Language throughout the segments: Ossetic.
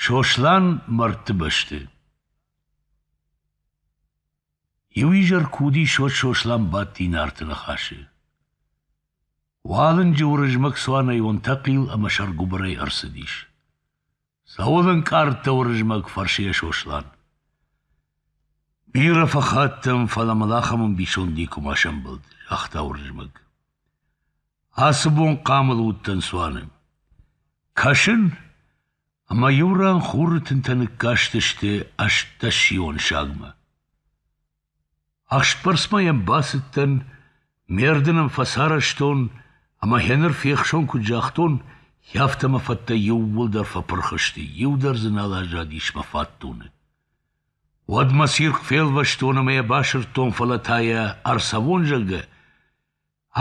Сослан мӕрдты бӕсты Иу изӕр куы уыди Сод Сослан бадти Нарты ныхасы. Уалынджы Уырызмӕг цуанӕй онтӕхъил ӕмӕ сӕргуыбырӕй ӕрцыдис. Цӕуыл ӕнкъардта Уырызмӕг, фӕрсы йӕ Сослан. Бирӕ фӕхаттӕм, фӕлӕ мыл ахӕм ӕмбисонд никуыма сӕмбӕлд, загъта Уырызмӕг. Ацы бон хъамыл уыдтӕн цуаны. Кӕсын, ӕмӕ иу ран хуры тынтӕ ныккастысты ӕстдӕссион сагмӕ. Ӕхсбӕрцмӕ йӕм бацыдтӕн, ме рдын ӕм фӕцарӕзтон, ӕмӕ гьеныр фехсон куыд загътон, афтӕ мӕ фӕдтӕ иууылдӕр фӕпырх сты, иу дӕр дзы нал аззадис мӕ фатдоны. Уӕд мӕ цирхъ фелвӕстон ӕмӕ йӕ басырдтон, фӕлӕ та йӕ ӕрцӕвон, зӕгъгӕ,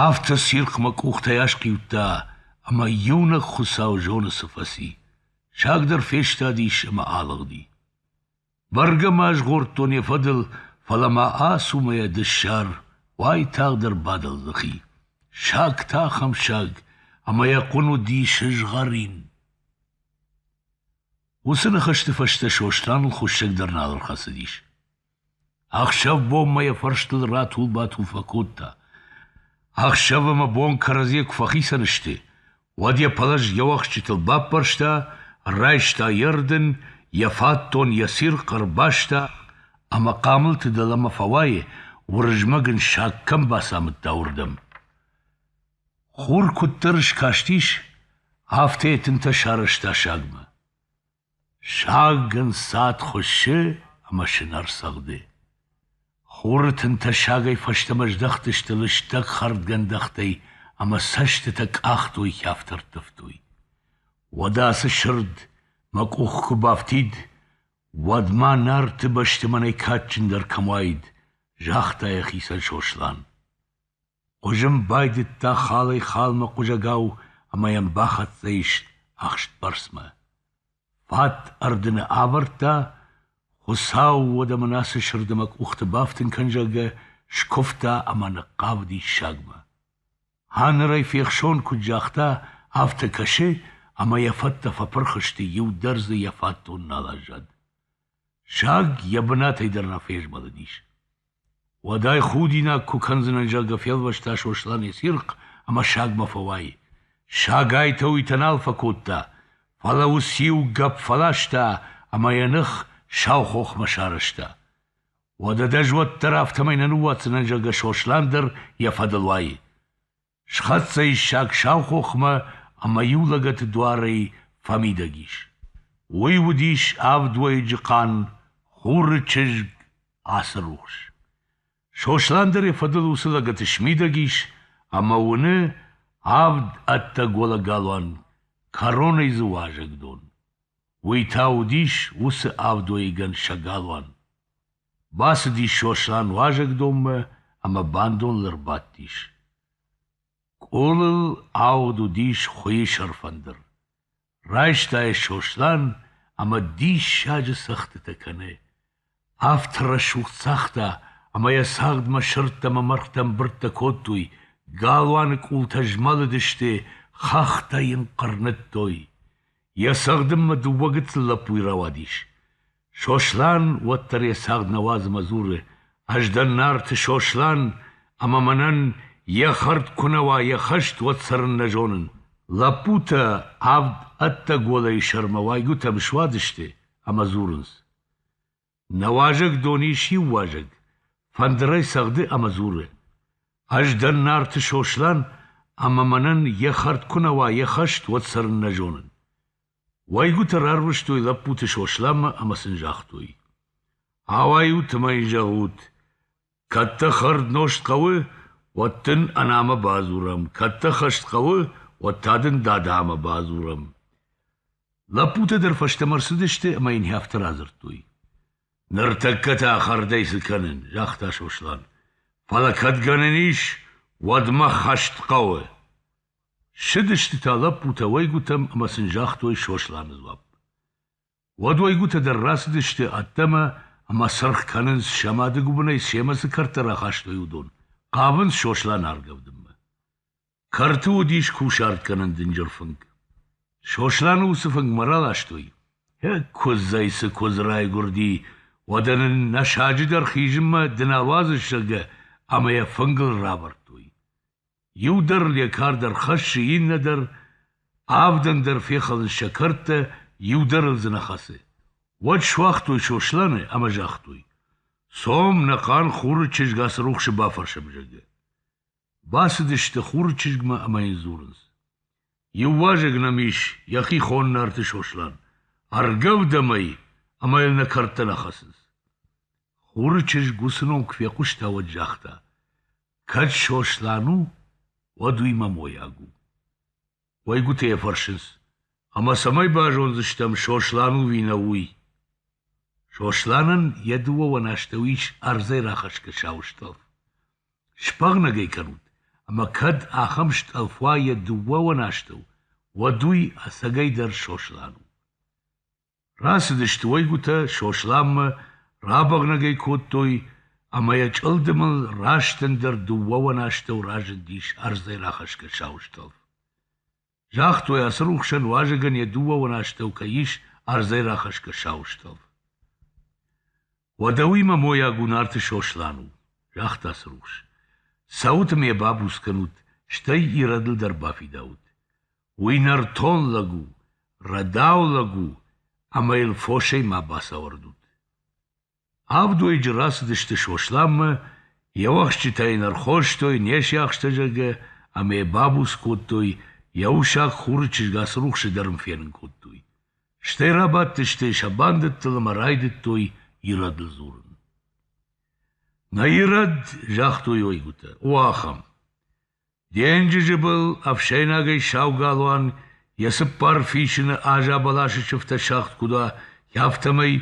Афтӕ цирхъмӕ къухтӕй асхъиудта, ӕмӕ иунӕг хуыцау зоны цы фӕци. Саг дӕр фестадис ӕмӕ алыгъди. Бӕргӕ ма згъордтон йӕ фӕдыл, фӕлӕ ма ацумайӕ дыссар уайтагъдӕр бадал дзыхи. Саг та ахӕм саг, ӕмӕ йӕ хъуын уыди сызгъӕрин. Уыцы ныхӕсты фӕстӕ Сосланыл хуыссӕг дӕр нал ӕрхӕцыдис. Ӕхсӕв-бонмӕ йӕ фӕрстыл ратул-батул фӕкодта. Ӕхсӕв ӕмӕ бон кӕрӕдзийӕ куы фӕхицӕн сты, уӕд йӕ пӕлӕз йӕ уӕхсчытыл баппӕрста, райста йӕ рдын, йӕ фатдон, йӕ цирхъ ӕрбаста ӕмӕ хъамылты дӕлӕмӕ фӕуайы, Уырызмӕг ын саг кӕм бацамыдта, уырдӕм. Хур куыддӕр скастис, афтӕ йӕ тынтӕ сарӕзта сагмӕ. Саг ын цад хуыссы ӕмӕ сынӕр цӕгъды. Хуры тынтӕ сагӕй фӕстӕмӕ здӕхтысты лыстӕг хӕрдгӕндӕхтӕй ӕмӕ цӕстытӕ къахтой хӕфтӕ ӕрттывтой. Уӕдӕ ацы сырд мӕ къух куы бафтид, уӕд ма Нарты бӕсты мӕнӕй кадджындӕр кӕм уаид, загъта йӕхицӕн Сослан. Хъуызын байдыдта халӕй-халмӕ хъуызӕгау ӕмӕ йӕм бахӕццӕ ис ӕхстбӕрцмӕ. Фат ӕрдыны авӕрдта, Хуыцау уӕдӕ мын ацы сырды мӕ къухты бафтын кӕн, зӕгъгӕ, скуывта ӕмӕ ныхъхъавы диссагмӕ. Ханырӕй фехсон куыд загъта, афтӕ кӕсы, ӕмӕ йӕ фӕдтӕ фӕпырх сты, иу дӕр дзы йӕ фатдон нал аззад. Саг йӕ бынатӕй дӕр рафӕзмӕлыдис. Уӕдӕй худинаг куы кӕндзынӕн, зӕгъгӕ, фелвӕста Сослан йӕ цирхъ ӕмӕ сагмӕ фӕуай. Саг айтӕ-уйтӕ нал фӕкодта, фӕлӕ уыциу гӕпп фӕласта ӕмӕ йӕ ных сау хохмӕ сарӕзта. Уӕдӕ дӕ зуӕд дӕр афтӕмӕй нӕ ныууадздзынӕн, зӕгъгӕ, Сослан дӕр йӕ фӕдыл уайы. Схӕццӕ иссӕг сау хохмӕ ӕмӕ иу лӕгӕты дуарӕй фӕмидӕг ис. Уый уыдис ӕвдуӕйыджы хъан Хуры чызг Ацырухс. Сослан дӕр йӕ фӕдыл уыцы лӕгӕты смидӕг ис ӕмӕ уыны авд ӕддӕ голы галуан, кӕронӕй дзы уазӕгдон. Уый та уыдис уыцы ӕвдуӕйыгӕн сӕ галуан. Бацыдис Сослан уазӕгдонмӕ ӕмӕ бандоныл ӕрбадтис. Къулыл ауыд уыдис хуыйы сӕрфӕндыр. Райста йӕ Сослан ӕмӕ диссаджы цӕгъдтытӕ кӕны. Афтӕ рӕсугъд цагъта, ӕмӕ йӕ цагъдмӕ сырдтӕ ӕмӕ мӕргътӕ ӕмбырдтӕ кодтой, галуаны къултӕ змӕлыдысты, хӕхтӕ йын хъырныдтой. Йӕ цӕгъдынмӕ дыууӕ гыццыл лӕппуйы рауадис. Сослан уӕддӕр йӕ цагъд нӕ уадзмӕ дзуры: Ӕз дӕн Нарты Сослан, ӕмӕ мӕнӕн йӕ хӕрд куы нӕ уа, йӕ хӕст уӕд цӕрын нӕ зонын. Лӕппутӕ авд ӕддӕголӕй сӕрмӕ уӕйгуытӕм суадысты ӕмӕ дзурынц: Нӕ уазӕг дон ис иу уазӕг, фӕндырӕй цӕгъды ӕмӕ дзуры: Ӕз дӕн Нарты Сослан, ӕмӕ мӕнӕн йӕ хӕрд куы нӕ уа, йӕ хӕст уӕд цӕрын нӕ зонын. Уӕйгуытӕ рарвыстой лӕппуты Сосланмӕ ӕмӕ сын загътой: «Ауайут ӕмӕ йын зӕгъут, кӕд дӕ хӕрднозт хъӕуы, уӕд дын анамӕ бадзурӕм, кӕд дӕ хӕст хъӕуы, уӕд та дын дадамӕ бадзурӕм». Лӕппутӕ дӕр фӕстӕмӕ ӕрцыдысты ӕмӕ йын афтӕ радзырдтой: «Ныртӕккӕ та хӕрдӕй цы кӕнын?» – загъта Сослан. «Фӕлӕ кӕд гӕнӕн ис, уӕд мӕ хӕст хъӕуы». Ссыдысты та лӕппутӕ уӕйгуытӕм ӕмӕ сын загътой Сосланы дзуапп. Уӕд уӕйгуытӕ дӕр рацыдысты ӕддӕмӕ ӕмӕ сырх кӕнынц, сӕ мады гуыбынӕй семӕ цы кӕртӕ рахастой, уыдон, хъавынц Сосланы аргӕвдынмӕ. Кӕрты уыдис кусарткӕнӕн дынджыр фынг. Сосланы уыцы фынгмӕ раластой. Куыдзӕй цы куыдз райгуырди, уӕдӕ нын нӕ саджы дӕр хизынмӕ ды нал уадзыс, зӕгъгӕ, ӕмӕ йӕ фынгыл равӕрдтой. Иу дӕр йӕ кард ӕрхӕссы, иннӕ дӕр, авдӕн дӕр фехӕлынц сӕ кӕрдтӕ, иу дӕр ыл дзы нӕ хӕцы. Уӕд суагътой Сосланы ӕмӕ загътой: «Цом, нӕ хъан Хуры чызг Ацырухсы бафӕрсӕм, зӕгъгӕ». Бацыдысты Хуры чызгмӕ ӕмӕ йын дзурынц: Иу уазӕг нӕм ис йӕхихон Нарты Сослан, ӕргӕвдӕм ӕй ӕмӕ йыл нӕ кӕрдтӕ нӕ хӕцынц. Хуры чызг уыцы ном куы фехъуыста, уӕд загъта: «Кӕд Сослан у, уӕд уый мӕ мойаг у». Уӕйгуытӕ йӕ фӕрсынц: «Ӕмӕ цӕмӕй базондзыстӕм, Сослан у ӕви нӕ, уый?» Сосланӕн йӕ дыууӕвӕн астӕу ис ӕрдзӕй рахӕсгӕ сау стъӕлф. сбӕгънӕг ӕй кӕнут, ӕмӕ кӕд ахӕм стъӕлф уа йӕ дыууӕуӕн астӕу, уӕд уый ӕцӕгӕйдӕр Сослан у. Рацыдысты уӕйгуытӕ Сосланмӕ, рабӕгънӕг ӕй кодтой, ӕмӕ йӕ чъылдымыл раст ӕндӕр дыууӕуӕн астӕу разындис ӕрдзӕй рахӕсгӕ сау стъӕлф. Загътой, Ацырухсӕн уазӕгӕн йӕ дыууӕон астӕу кӕй ис ӕрдзӕй рахӕсгӕ сау стӕлф. Уӕдӕ уый мӕ мойаг у Нарты Сослан у, загъта Ацырухс. Цӕут ӕмӕ йӕ бабуц кӕнут, стӕй ирӕдыл дӕр бафидаут. Уый нӕртон лӕг у, рӕдау лӕг у, ӕмӕ йыл фосӕй ма бацауӕрдут. Авдуйыджы рацыдысты Сосланмӕ, йӕ уӕхсчытӕ йын ӕрхостой не сиахстӕ, зӕгъгӕ, ӕмӕ йӕ бабуц кодтой, йӕ усаг хуры чызг Ацырухсы дӕр ын фенын кодтой. Стӕй рабадтысты сӕ бандӕттыл ӕмӕ райдыдтой ирӕдыл дзурын. Нӕ ирӕд, загътой ойгуытӕ, у ахӕм: Денджызы был ӕфсӕйнагӕй сау галуан йӕ цыппар фисыны аза бӕласы сыфтӕ сагъд куыд уа, афтӕмӕй,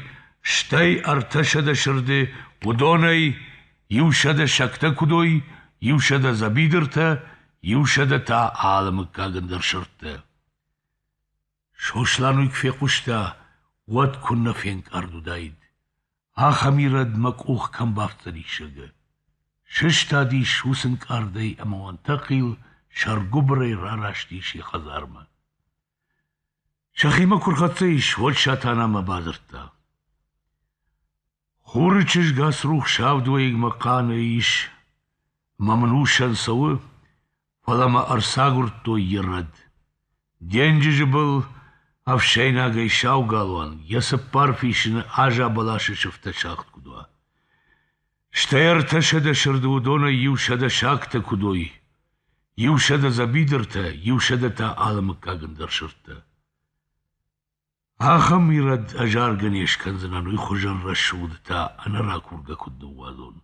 стӕй ӕртӕсӕдӕ сырды уыдонӕй иусӕдӕ сӕгтӕ куыд уой, иусӕдӕ дзӕбидыртӕ, иусӕдӕ та алы мыггагӕн дӕр сырдтӕ. Сослан уый куы фехъуыста, уӕд куыннӕ фенкъард уыдаид. Ахӕм ирӕд мӕ къух кӕм бафтдзӕни сыгы! Сыстадис уыцы нкъардӕй ӕмӕ уӕнтӕхъил сӕргуыбырӕй рараст ис йӕ хӕдзармӕ. Сӕхимӕ куы рхӕццӕ ис, уӕд Сатанамӕ бадзырдта. Хуры чызг Ацрухс авд уӕйыгмӕ хъаны ис, мӕ мын усӕн цӕуы, фӕлӕ мӕ ӕрцагуырдтой йӕ рӕд. Денджызы был ӕфсӕйнагӕй сау галуан йӕ цыппар фисыны аза бӕласы сыфтӕ сагъд куыд уа. Стӕй ӕртӕсӕдӕ сырды уыдонӕй иусӕдӕ сагтӕ куыд уой, иусӕдӕ дзӕбидыртӕ, иусӕдӕ та алы мыггагӕн дӕр сырдтӕ. Ахӕм ирӕд ӕз аргӕ не скӕндзынӕн уый хуызӕн рӕсугъдтӕ ӕнӕ ракургӕ куыд ныууадзон.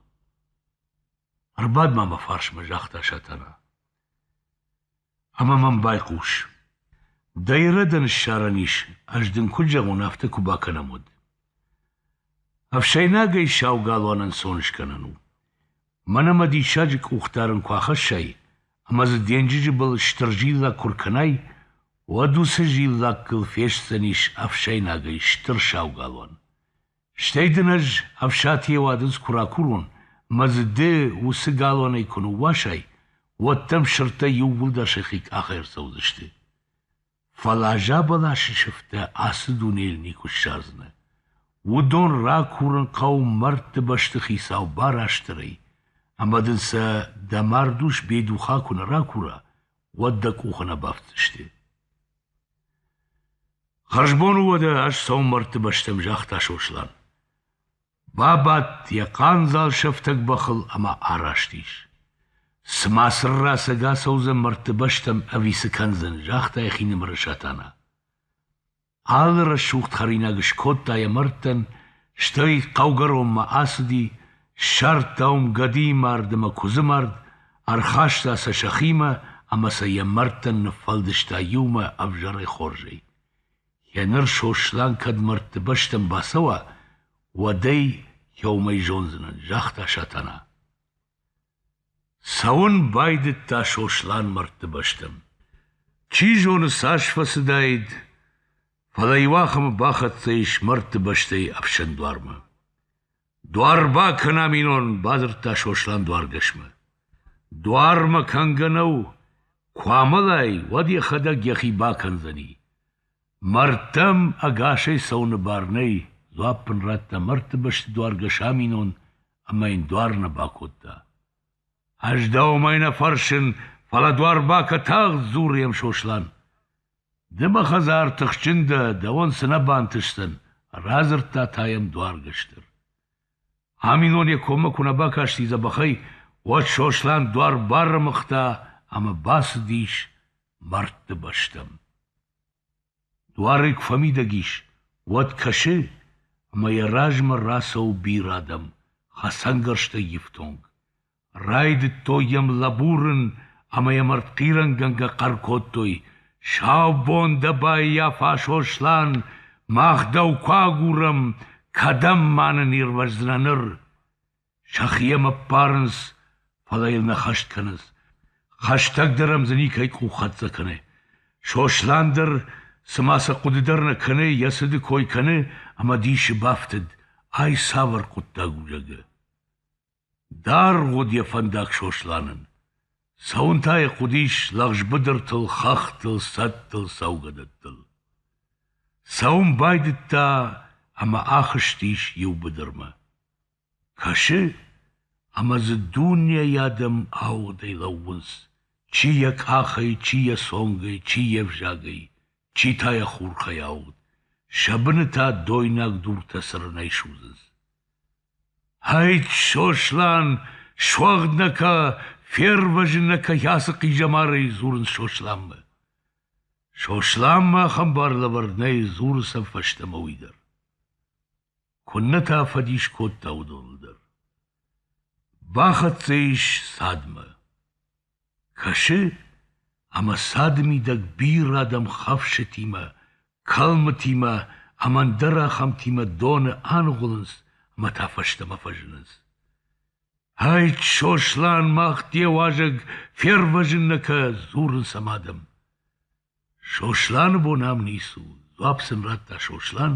Ӕрбад-ма мӕ фарсмӕ, загъта Сатана. Ӕмӕ мӕм байхъус. Дӕ ирӕдӕн ссарӕн ис, ӕз дын куыд зӕгъон, афтӕ куы бакӕнӕм, уӕд. Ӕфсӕйнагӕй сау галуан ӕнцон скӕнӕн у. Мӕнӕ мӕ диссаджы къух дарын куы ахӕссай, ӕмӕ дзы денджызы был стыр зиллакк куы ркӕнай, уӕд уыцы зиллаккыл фестдзӕнис ӕфсӕйнагӕй стыр саугалуан. Стӕй дын ӕз ӕфсатийӕ уадындз куы ракурон, мӕ дзы ды уыцы галуанӕй куы ныууасай, уӕд дӕм сырдтӕ иууылдӕр сӕхи къахӕй ӕрцӕудзысты. Фӕлӕ зӕбӕласы сыфтӕ ацы дунейыл никуы ссардзынӕ. Уыдон ракурын хъӕуы мӕрдты бӕсты хицау Барастырӕй, ӕмӕ дын сӕ дӕ мардус Бедуха куы нӕ ракура, уӕд дӕ къухы нӕ бафтдзысты. Хӕрзбон у уӕдӕ, ӕз сӕумӕрдты бӕстӕм, загъта Сослан. Бабадт йӕ хъандзал сӕфтӕг бӕхыл ӕмӕ араст ис. Цымӕ цырра сӕг ацӕудзӕн мӕрдты бӕстӕм ӕви цы кӕндзӕн? загъта йӕхинымӕры Сатана. Алы рӕсугъд хӕринаг скодта йӕ мӕрдтӕн, стӕй хъӕугӕронмӕ ацыди, ссардта уым гӕдыйы мард ӕмӕ куыдзы мард, ӕрхаста сӕ сӕхимӕ ӕмӕ сӕ йӕ мӕрдтӕн ныффӕлдыста иумӕ ӕвзӕрӕй хорзӕй. Еныр Сослан кӕд мӕрдты бӕстӕм бацӕуа, уӕд ӕй иумӕ зондзынӕн, загъта Сатана. Цӕуын байдыдта Сослан мӕрдты бӕстӕм. Чи зоны, цас фӕцыдаид, фӕлӕ иу ахӕмы бахӕццӕ ис мӕрдты бӕстӕйы ӕфсӕн дуармӕ. Дуар бакӕна минон, — бадзырдта Сослан дуаргӕсмӕ. Дуар мӕ кӕнгӕ нӕу, куы амӕлай, уӕд йӕхӕдӕг йӕхи бакӕндзӕни. Мӕрдтӕм ӕгасӕй цӕуыны бар нӕй, дзуапп ын радта мӕрдты бӕсты дуаргӕс аминон ӕмӕ йын дуар нӕ бакодта. — Ӕз дӕумӕ нӕ фӕрсын, фӕлӕ дуар бакӕ тагъд, — дзуры йӕм Сослан. Ды мӕ хӕдзар тыхджын дӕ, дӕуӕн цы нӕ бантысдзӕн, радзырдта та йӕм дуаргӕстӕр. Аминон йӕ коммӕ куы нӕ бакасти дзӕбӕхӕй, уӕд Сослан дуар баррымыгъта ӕмӕ бацыдис мӕрдты бӕстӕм. Дуарӕй куы фӕмидӕг ис, уӕд кӕсы, ӕмӕ йӕ размӕ рацӕуы бирӕ адӕм, хӕцӕнгӕрзтӕй ифтонг. Райдыдтой йӕм лӕбурын ӕмӕ йӕм ӕртхъирӕнгӕнгӕ хъӕр кодтой: «Саубон дӕ баййафа, Сослан! Мах дӕу куы агурӕм, кӕдӕм ма нын ирвӕздзынӕ ныр?» Сӕхи йӕм ӕппарынц, фӕлӕ йыл нӕ хӕст кӕнынц. Хӕстӕг дӕр ӕм дзы никӕй къуххӕццӕ кӕны. Сослан дӕр, цыма сӕ хъуыды дӕр нӕ кӕны, йӕ цыды кой кӕны ӕмӕ дисы бафтыд: ай цавӕр хъуыддаг у, зӕгъы. Даргъ уыд йӕ фӕндаг Сосланӕн. Цӕуын та йӕ хъуыдис лӕгъзбыдыртыл, хӕхтыл, цӕдтыл, цӕугӕдӕттыл. Цӕуын байдыдта ӕмӕ ахызтис иу быдырмӕ. Кӕсы, ӕмӕ дзы дунейы адӕм ауыгъдӕй лӕууынц, чи йӕ къахӕй, чи йӕ цонгӕй, чи йе взагӕй, чи та йӕ хурхӕй ауыгъд, сӕ быны та дойнаг дуртӕ цырынӕй судзынц. Ӕйтт, Сослан, суӕгъд нӕ кӕ, фервӕзын нӕ кӕ ацы хъизӕмарӕй, дзурынц Сосланмӕ. Сосланмӕ ахӕм бар лӕвӕрд нӕй, дзуры сӕ фӕстӕмӕ уый дӕр. Куыннӕ та фӕдис кодта уыдоныл дӕр. Бахӕццӕ ис цадмӕ. Кӕсы, ӕмӕ цады мидӕг бирӕ адӕм хӕфсытимӕ, кӕлмытимӕ ӕмӕ ӕндӕр ахӕмтимӕ доны аныгъуылынц ӕмӕ та фӕстӕмӕ фӕзынынц. «Ӕйтт, Сослан, мах де уазӕг фервӕзын нӕ кӕ!» дзурынц ӕм адӕм. Сосланы бон ам ницы у, дзуапп сын радта Сослан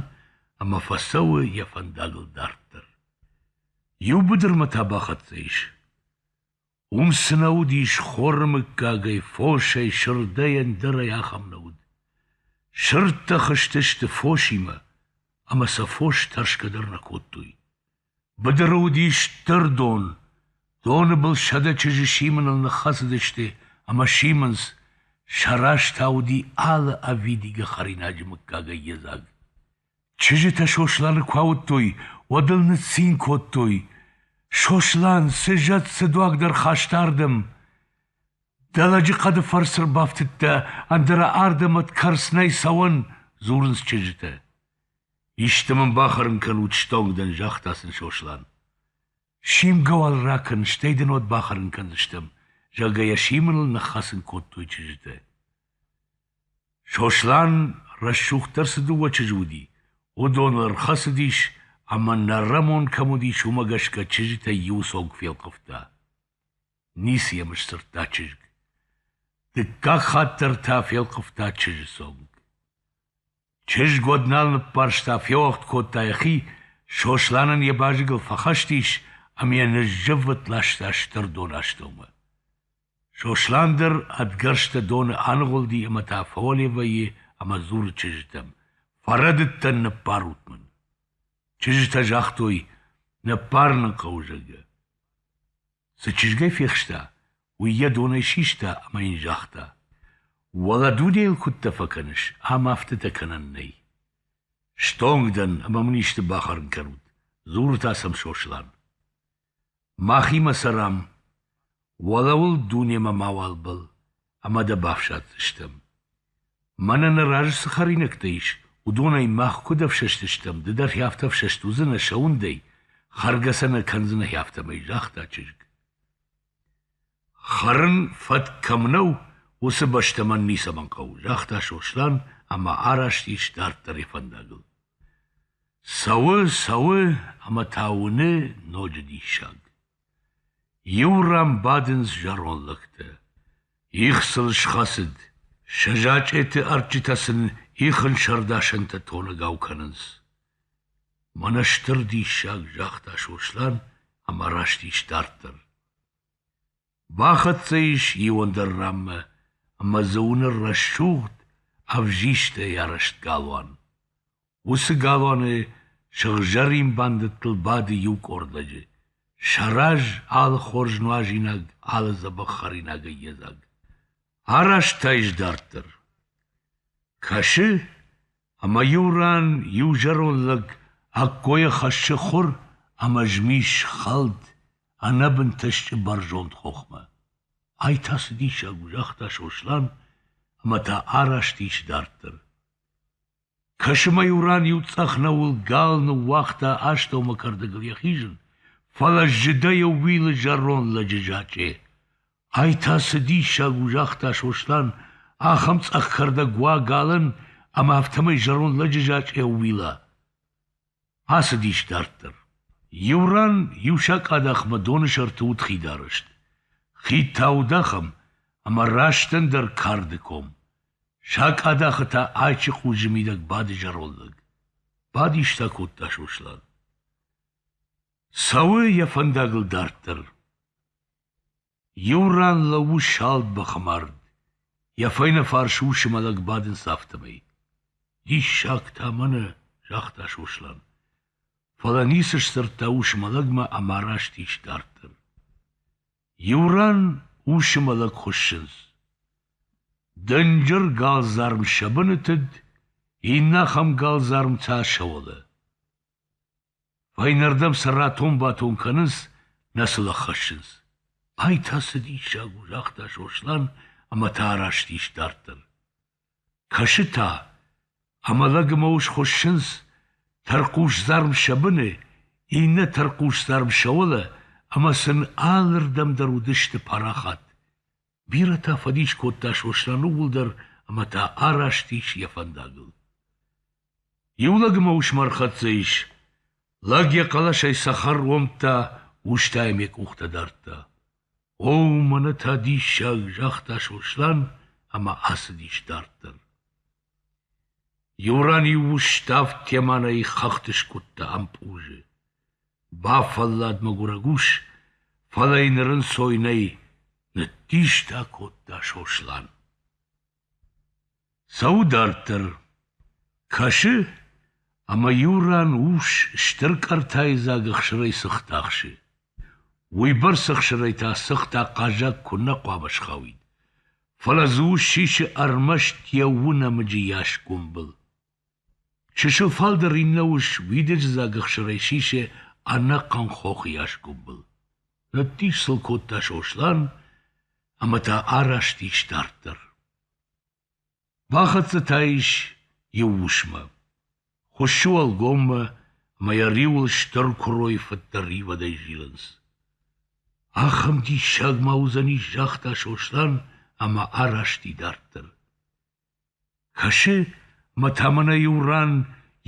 ӕмӕ фӕцӕуы йӕ фӕндагыл дарддӕр. Иу быдырмӕ та бахӕццӕ ис. Уым цы нӕ уыдис хоры мыггагӕй, фосӕй, сырдӕй, ӕндӕрӕй ахӕм нӕ уыд. Сырдтӕ хызтысты фосимӕ, ӕмӕ сӕ фос тӕрсгӕ дӕр нӕ кодтой. Быдыры уыдис стыр дон. Доны был сӕдӕ чызджы симыныл ныххӕцыдысты, ӕмӕ симынц, сӕ раз та уыди алы ӕвидигӕ хӕринаджы мыггагӕй йедзаг. Чызджытӕ Сосланы куы ауыдтой, уӕд ыл ныццин кодтой: Сослан, цы зӕд, цы дуаг дӕр хаста ардӕм! Дӕ лӕджыхъӕды фӕрцы ӕрбафтыдтӕ, ӕндӕра ардӕм ӕд кӕрц нӕй цӕуӕн! — дзурынц чызджытӕ. — Исты мын бахӕрын кӕнут, стонг дӕн, загъта сын Сослан. — Симгӕ уал ракӕн, стӕй дын уӕд бахӕрын кӕндзыстӕм, зӕгъгӕ, йӕ симыныл ныххӕцын кодтой чызджытӕ. Сослан рӕсугъддӕр цы дыууӕ чызджы уыди, уыдоны ӕрхӕцыдис ӕмӕ нӕррӕмон кӕм уыдис, уымӕ гӕсгӕ чызджытӕй иуы цонг фелхъывта. Ницы йӕм сдзырдта чызг. Дыккаг хатт дӕр та фелхъывта чызджы цонг. Чызг уӕд нал ныппӕрста, феуӕгъд кодта йӕхи, Сослан ын йӕ базыгыл фӕхӕст ис ӕмӕ йӕ ныззыввытт ласта стыр донастӕумӕ. Сослан дӕр ӕдгӕрзтӕ доны аныгъуылди ӕмӕ та фӕуӕлевӕйы ӕмӕ дзуры чызджытӕм: «Фӕрӕдыдтӕн ныппарут мын!» Чызджытӕ загътой: «Ныппарын ын хъӕуы, зӕгъгӕ». Цы чызгӕй фехста, уый йӕ донӕй систа ӕмӕ йын загъта: Уӕлӕ дунейыл куыдтӕ фӕкӕныс, ам афтӕтӕ кӕнӕн нӕй. Стонг дӕн ӕмӕ мын исты бахӕрын кӕнут, дзуры та сӕм Сослан. Махимӕ цӕрӕм, уӕлӕуыл дунемӕ мауал бӕл, ӕмӕ дӕ бафсаддзыстӕм. Мӕнӕ нӕ разы цы хӕринӕгтӕ ис, уыдонӕй мах куыд ӕфсӕстыстӕм, ды дӕхи афтӕ ӕфсӕст уыдзынӕ сӕ уындӕй, хӕргӕ сӕ нӕ кӕндзынӕ афтӕмӕй, загъта чызг. Хӕрын фӕтк кӕм нӕу, уыцы бӕстӕ мӕн ницӕмӕн хъӕуы, загъта Сослан ӕмӕ араст ис дарддӕр йӕ фӕндагыл. Цӕуы, цӕуы ӕмӕ та уыны ноджы диссаг. Иу ран бадынц зӕронд лӕгтӕ. Их сыл схӕцыд. Сӕ зачъеты ӕрджытӕ сын ихын сӕрдасӕнтӕ тоныгау кӕнынц. Мӕнӕ стыр диссаг, загъта Сослан ӕмӕ раст ис дарддӕр. Бахӕццӕ ис иу ӕндӕр ранмӕ, ӕмӕ дзы уыны рӕсугъд, ӕвзистӕй арӕзт галуан. Уыцы галуаны сыгъзӕрин бандӕттыл бады иу къордӕджы, сӕ раз алы хорз нуазинаг, алы дзӕбӕх хӕринагӕй йедзаг. Араст та ис дарддӕр. Кӕсы, ӕмӕ иу ран иу зӕронд лӕг ӕккойӕ хӕссы хуыр ӕмӕ змис хӕлд ӕнӕбынтӕ стджы бӕрзонд хохмӕ. Ай та цы диссаг у, загъта Сослан ӕмӕ та араст ис дарддӕр. Кӕсымӕ-иу ран иу цъӕх нӕуыл гал ныууагъта астӕумӕ кӕрдӕгыл йӕ хизын, фӕлӕ зыдӕй ӕууилы зӕронд лӕджы зачъе. Ай та цы диссаг у, загъта Сослан ахӕм цъӕх кӕрдӕг уа галӕн ӕмӕ афтӕмӕй зӕронд лӕджы зачъе ӕууила. Ацыдис дарддӕр. Иу ран иу сакъадахмӕ доны сӕрты уыд хидарӕзт. Хи тӕвд ахӕм, ӕмӕ растӕн дӕр карды ком. Сакъадахы та айчы хъузы мидӕг бады зӕронд лӕг. Бадис та кодта Сослан. Цӕуы йӕ фӕндагыл дарддӕр. Иу ран лӕууы салд бӕхы мард. Йӕ фӕйнӕфарс усы мӕлӕг бадынц афтӕмӕй. «Диссаг та мӕнӕ!» — загъта Сослан. Фӕлӕ ницы сдзырдта усы мӕлӕгмӕ ӕмӕ раст ис дарддӕр. Иу ран усы мӕлӕг хуыссынц. Дынджыр галдзарм сӕ бынытыд, иннӕ ахӕм галдзарм та сӕ уӕлӕ. Фӕйнӕрдӕм сӕ ратон-батон кӕнынц, нӕ сыл ӕххӕссынц. — Ай та цы диссаг у! — загъта Сослан ӕмӕ та араст ис дарддӕр. Кӕсы та, ӕмӕ лӕгмӕ ус хуыссынц, тӕрхъусдзарм сӕ быны, иннӕ тӕрхъусдзарм сӕ уӕлӕ, ӕмӕ сын алырдӕм дӕр уыдысты парахат. Бирӕтӕ фӕдис кодта Сослан ууыл дӕр, ӕмӕ та араст ис йӕ фӕндагыл. Иу лӕг ӕмӕ ус ма рхӕццӕ ис. Лӕг йӕ хъӕлӕсӕй цӕхӕр уомдта, устӕ йӕм йӕ къухтӕ дардта. — О, мӕнӕ та диссаг! — загъта Сослан ӕмӕ ацыдис дарддӕр. Иу ран иу устав теманӕй хӕхты скъуыдта ӕмпъузы. Бафӕллад мӕгуырӕг ус, фӕлӕ йын рынцой нӕй, ныддистӕ кодта Сослан. Цӕуы дарддӕр, кӕсы, ӕмӕ иу ран ус стыр къӕртайы дзаг ӕхсырӕй сыхтӕхсы. Уыйбӕрц ӕхсырӕй та цыхт ахъаззаг куыннӕ хъуамӕ схауид, фӕлӕ дзы ус сисы ӕрмӕст йӕ уынӕмыджы йас гомбыл. Чысыл фалдӕр иннӕ ус уидыджы дзаг ӕхсырӕй сисы ӕнӕхъӕн хохы йас гомбыл. Ныддих сыл кодта Сослан ӕмӕ та араст ис дарддӕр. Бахӕццӕ та ис иу усмӕ. Хуыссы уӕлгоммӕ ӕмӕ йӕ риуыл стыр куырой фыддӕр ивадӕй зилынц. Ахӕм диссаг ма уыдзӕнис, загъта Сослан ӕмӕ араст и дарддӕр. Кӕсы, мӕ тӕмӕны иу ран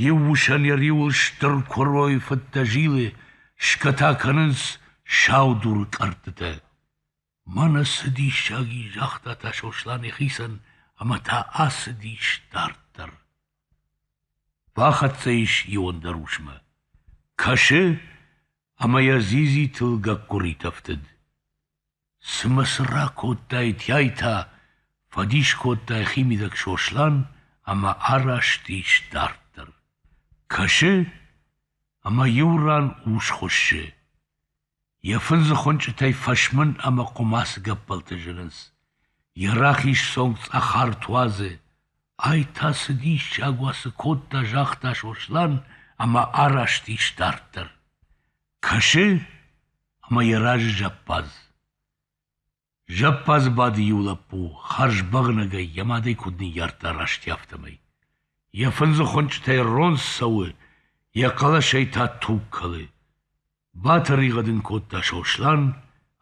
иу усӕн йӕ риуыл стыр куырой фыдтӕ зилы, скӕтӕ кӕнынц саудур кӕрдтытӕ. Мӕнӕ цы диссаг и, загъта та Сослан йӕхицӕн ӕмӕ та ацыдис дарддӕр. Фӕхӕццӕ ис иуӕндӕр усмӕ. Кӕсы, ӕмӕ йӕ дзидзи тыл гӕккуырит ӕфтыд. Цымӕ цы ракодтаитӕй та? фӕдис кодта йӕхимидӕг Сослан ӕмӕ араст ис дарддӕр. Кӕсы, ӕмӕ иу ран ус хуыссы. Йӕ фындзы хуынчъытӕй фӕсмын ӕмӕ хъуымацы гӕппӕлтӕ зынынц. Йӕ рахиз цонг цъӕхарт уадзы. Ай та цы диссаг уа цы кодта, загъта Сослан ӕмӕ араст ис дарддӕр. Кӕсы, ӕмӕ йӕ разы зӕппадз. Зӕппадзы бады иу лӕппу хӕрзбӕгънӕгӕй йӕ мадӕй куыд ныййардта расти афтӕмӕй. Йӕ фындзы хуынчъытӕй ронс цӕуы, йӕ хъӕлӕсӕй та туг кӕлы. Батӕригъӕд ын кодта Сослан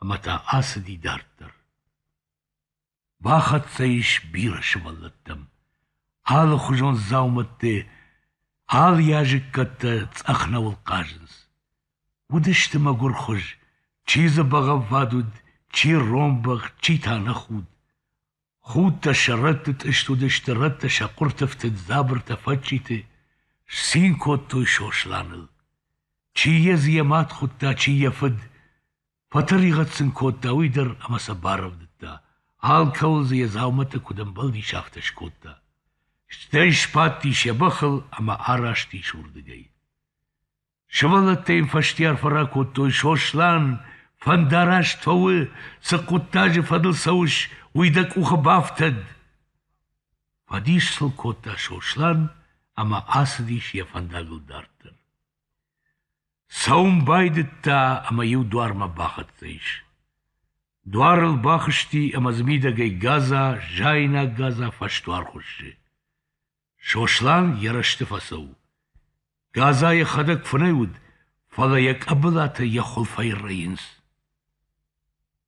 ӕмӕ та ацыди дарддӕр. Бахӕццӕ ис бирӕ сывӕллӕттӕм. Алыхуызон дзаумӕтты, алы языккӕттӕ цъӕх нӕуыл хъазынц. Уыдысты мӕгуырхуыз, чи дзы бӕгъӕввад уыд, чи ронбӕх, чи та ныхуд. Худтӕ сӕ рӕтты тъыст уыдысты, рӕттӕ сӕ хъуырты фтыд дзабыртӕ фӕдджиты, сцин кодтой Сосланыл. Чи йӕ дзы йӕ мад хуыдта, чи йӕ фыд. Фӕтӕригъӕд сын кодта уый дӕр ӕмӕ сӕ барӕвдыдта. Алкӕуыл дзы йӕ дзаумӕттӕ куыд ӕмбӕлдис, афтӕ скодта. Стӕй сбадтис йӕ бӕхыл ӕмӕ араст ис уырдыгӕй. Сывӕллӕттӕ йын фӕстиарфӕ ракодтой, Сослан, фӕндараст фӕу, цы хъуыддаджы фӕдыл цӕуыс, уый дӕ къухы бафтӕд! Фӕдис сыл кодта Сослан ӕмӕ ацыдис йӕ фӕндагыл дарддӕр. Цӕуын байдыдта ӕмӕ иу дуармӕ бахӕццӕ ис. Дуарыл бахызти ӕмӕ дзы мидӕгӕй гадза, зайнаг гадза фӕсдуар хуыссы. Сослан йӕ рӕзты фӕцӕуы. Газа йӕхӕдӕг фынӕй уыд, фӕлӕ йӕ къӕбылатӕ йӕ хуылфӕй рӕйынц.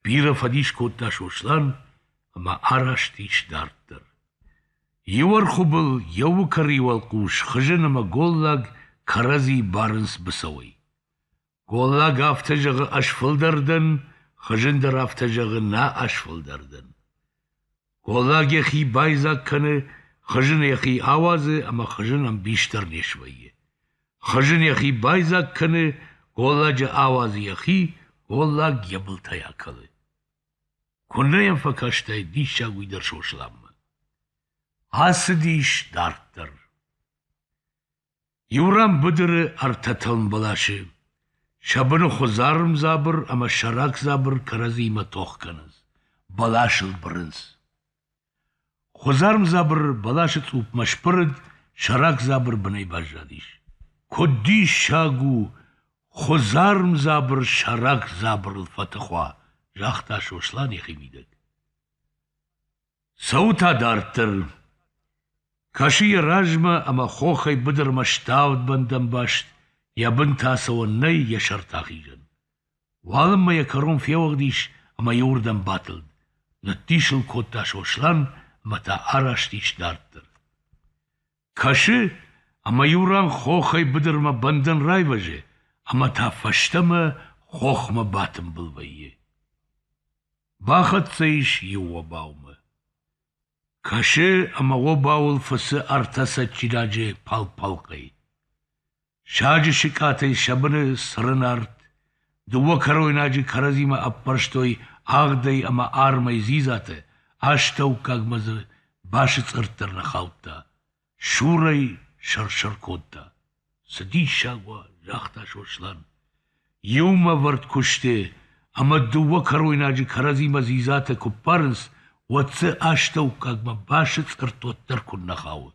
Бирӕ фӕдис кодта Сослан ӕмӕ араст ис дарддӕр. Иу ӕрхуыбыл йӕ уыкӕрыйы уӕлхъус хызын ӕмӕ голлаг кӕрӕдзи барынц быцӕуӕй. Голлаг афтӕ зӕгъы ӕз фылдӕр дӕн, хызын дӕр афтӕ зӕгъы нӕ ӕз фылдӕр дӕн. Голлаг йӕхи байдзаг кӕны, хызын йӕхи ауадзы ӕмӕ хызын ӕмбис дӕр не свӕййы. Хызын йӕхи байдзаг кӕны, голладжы ауадзы йӕхи, голлаг йӕ былтӕй акӕлы. Куыннӕ йӕм фӕкастаид диссаг уый дӕр Сосланмӕ. Ацыдис дарддӕр. Иу ран быдыры ӕртӕ тӕлм бӕласы сӕ быны хуыдзарм дзабыр ӕмӕ сӕрак дзабыр кӕрӕдзимӕ тох кӕнынц, бӕласыл бырынц. Хуыдзарм дзабыр бӕласы цъупмӕ сбырыд, сӕрак дзабыр бынӕй баззадис. Куыд диссаг у, хуыдзарм дзабыр сӕрак дзабырыл фӕтых уа, загъта Сослан йӕхимидӕг. Цӕуы та дарддӕр. Кӕсы йӕ размӕ ӕмӕ хохӕй быдырмӕ ставд бӕндӕнбаст, йӕ бын та цӕуӕн нӕй йӕ сӕрты ахизӕн. Уалынмӕ йӕ кӕрон феуӕгъд ис ӕмӕ иуырдӕм батылд. Ныддис ыл кодта Сослан ӕмӕ та араст ис дарддӕр. Кӕсы, ӕмӕ иу ран хохӕй быдырмӕ бӕндӕн райвӕзы ӕмӕ та фӕстӕмӕ хохмӕ батымбыл вӕййы. Бахӕццӕ ис иу обаумӕ. Кӕсы, ӕмӕ обауыл фыцы ӕртӕ цӕджджидаджы пӕл-пӕлкъӕй. Саджы сыкъатӕй сӕ быны цырын арт. Дыууӕ кӕройнаджы кӕрӕдзимӕ ӕппӕрстой агъдӕй ӕмӕ армӕй дзидзатӕ, астӕуккагмӕ дзы басыцъыртт ӕрнӕхаудта, сурӕй сӕр-сӕр кодта. «Цы диссаг уа!» — загъта Сослан. Иум ӕвӕрд куысты ӕмӕ дыууӕ кӕройнаджы кӕрӕдзимӕ дзидзатӕ куы ппарынц, уӕд дзы астӕуккагмӕ басыцъыртт уӕддӕр куыннӕ хауы.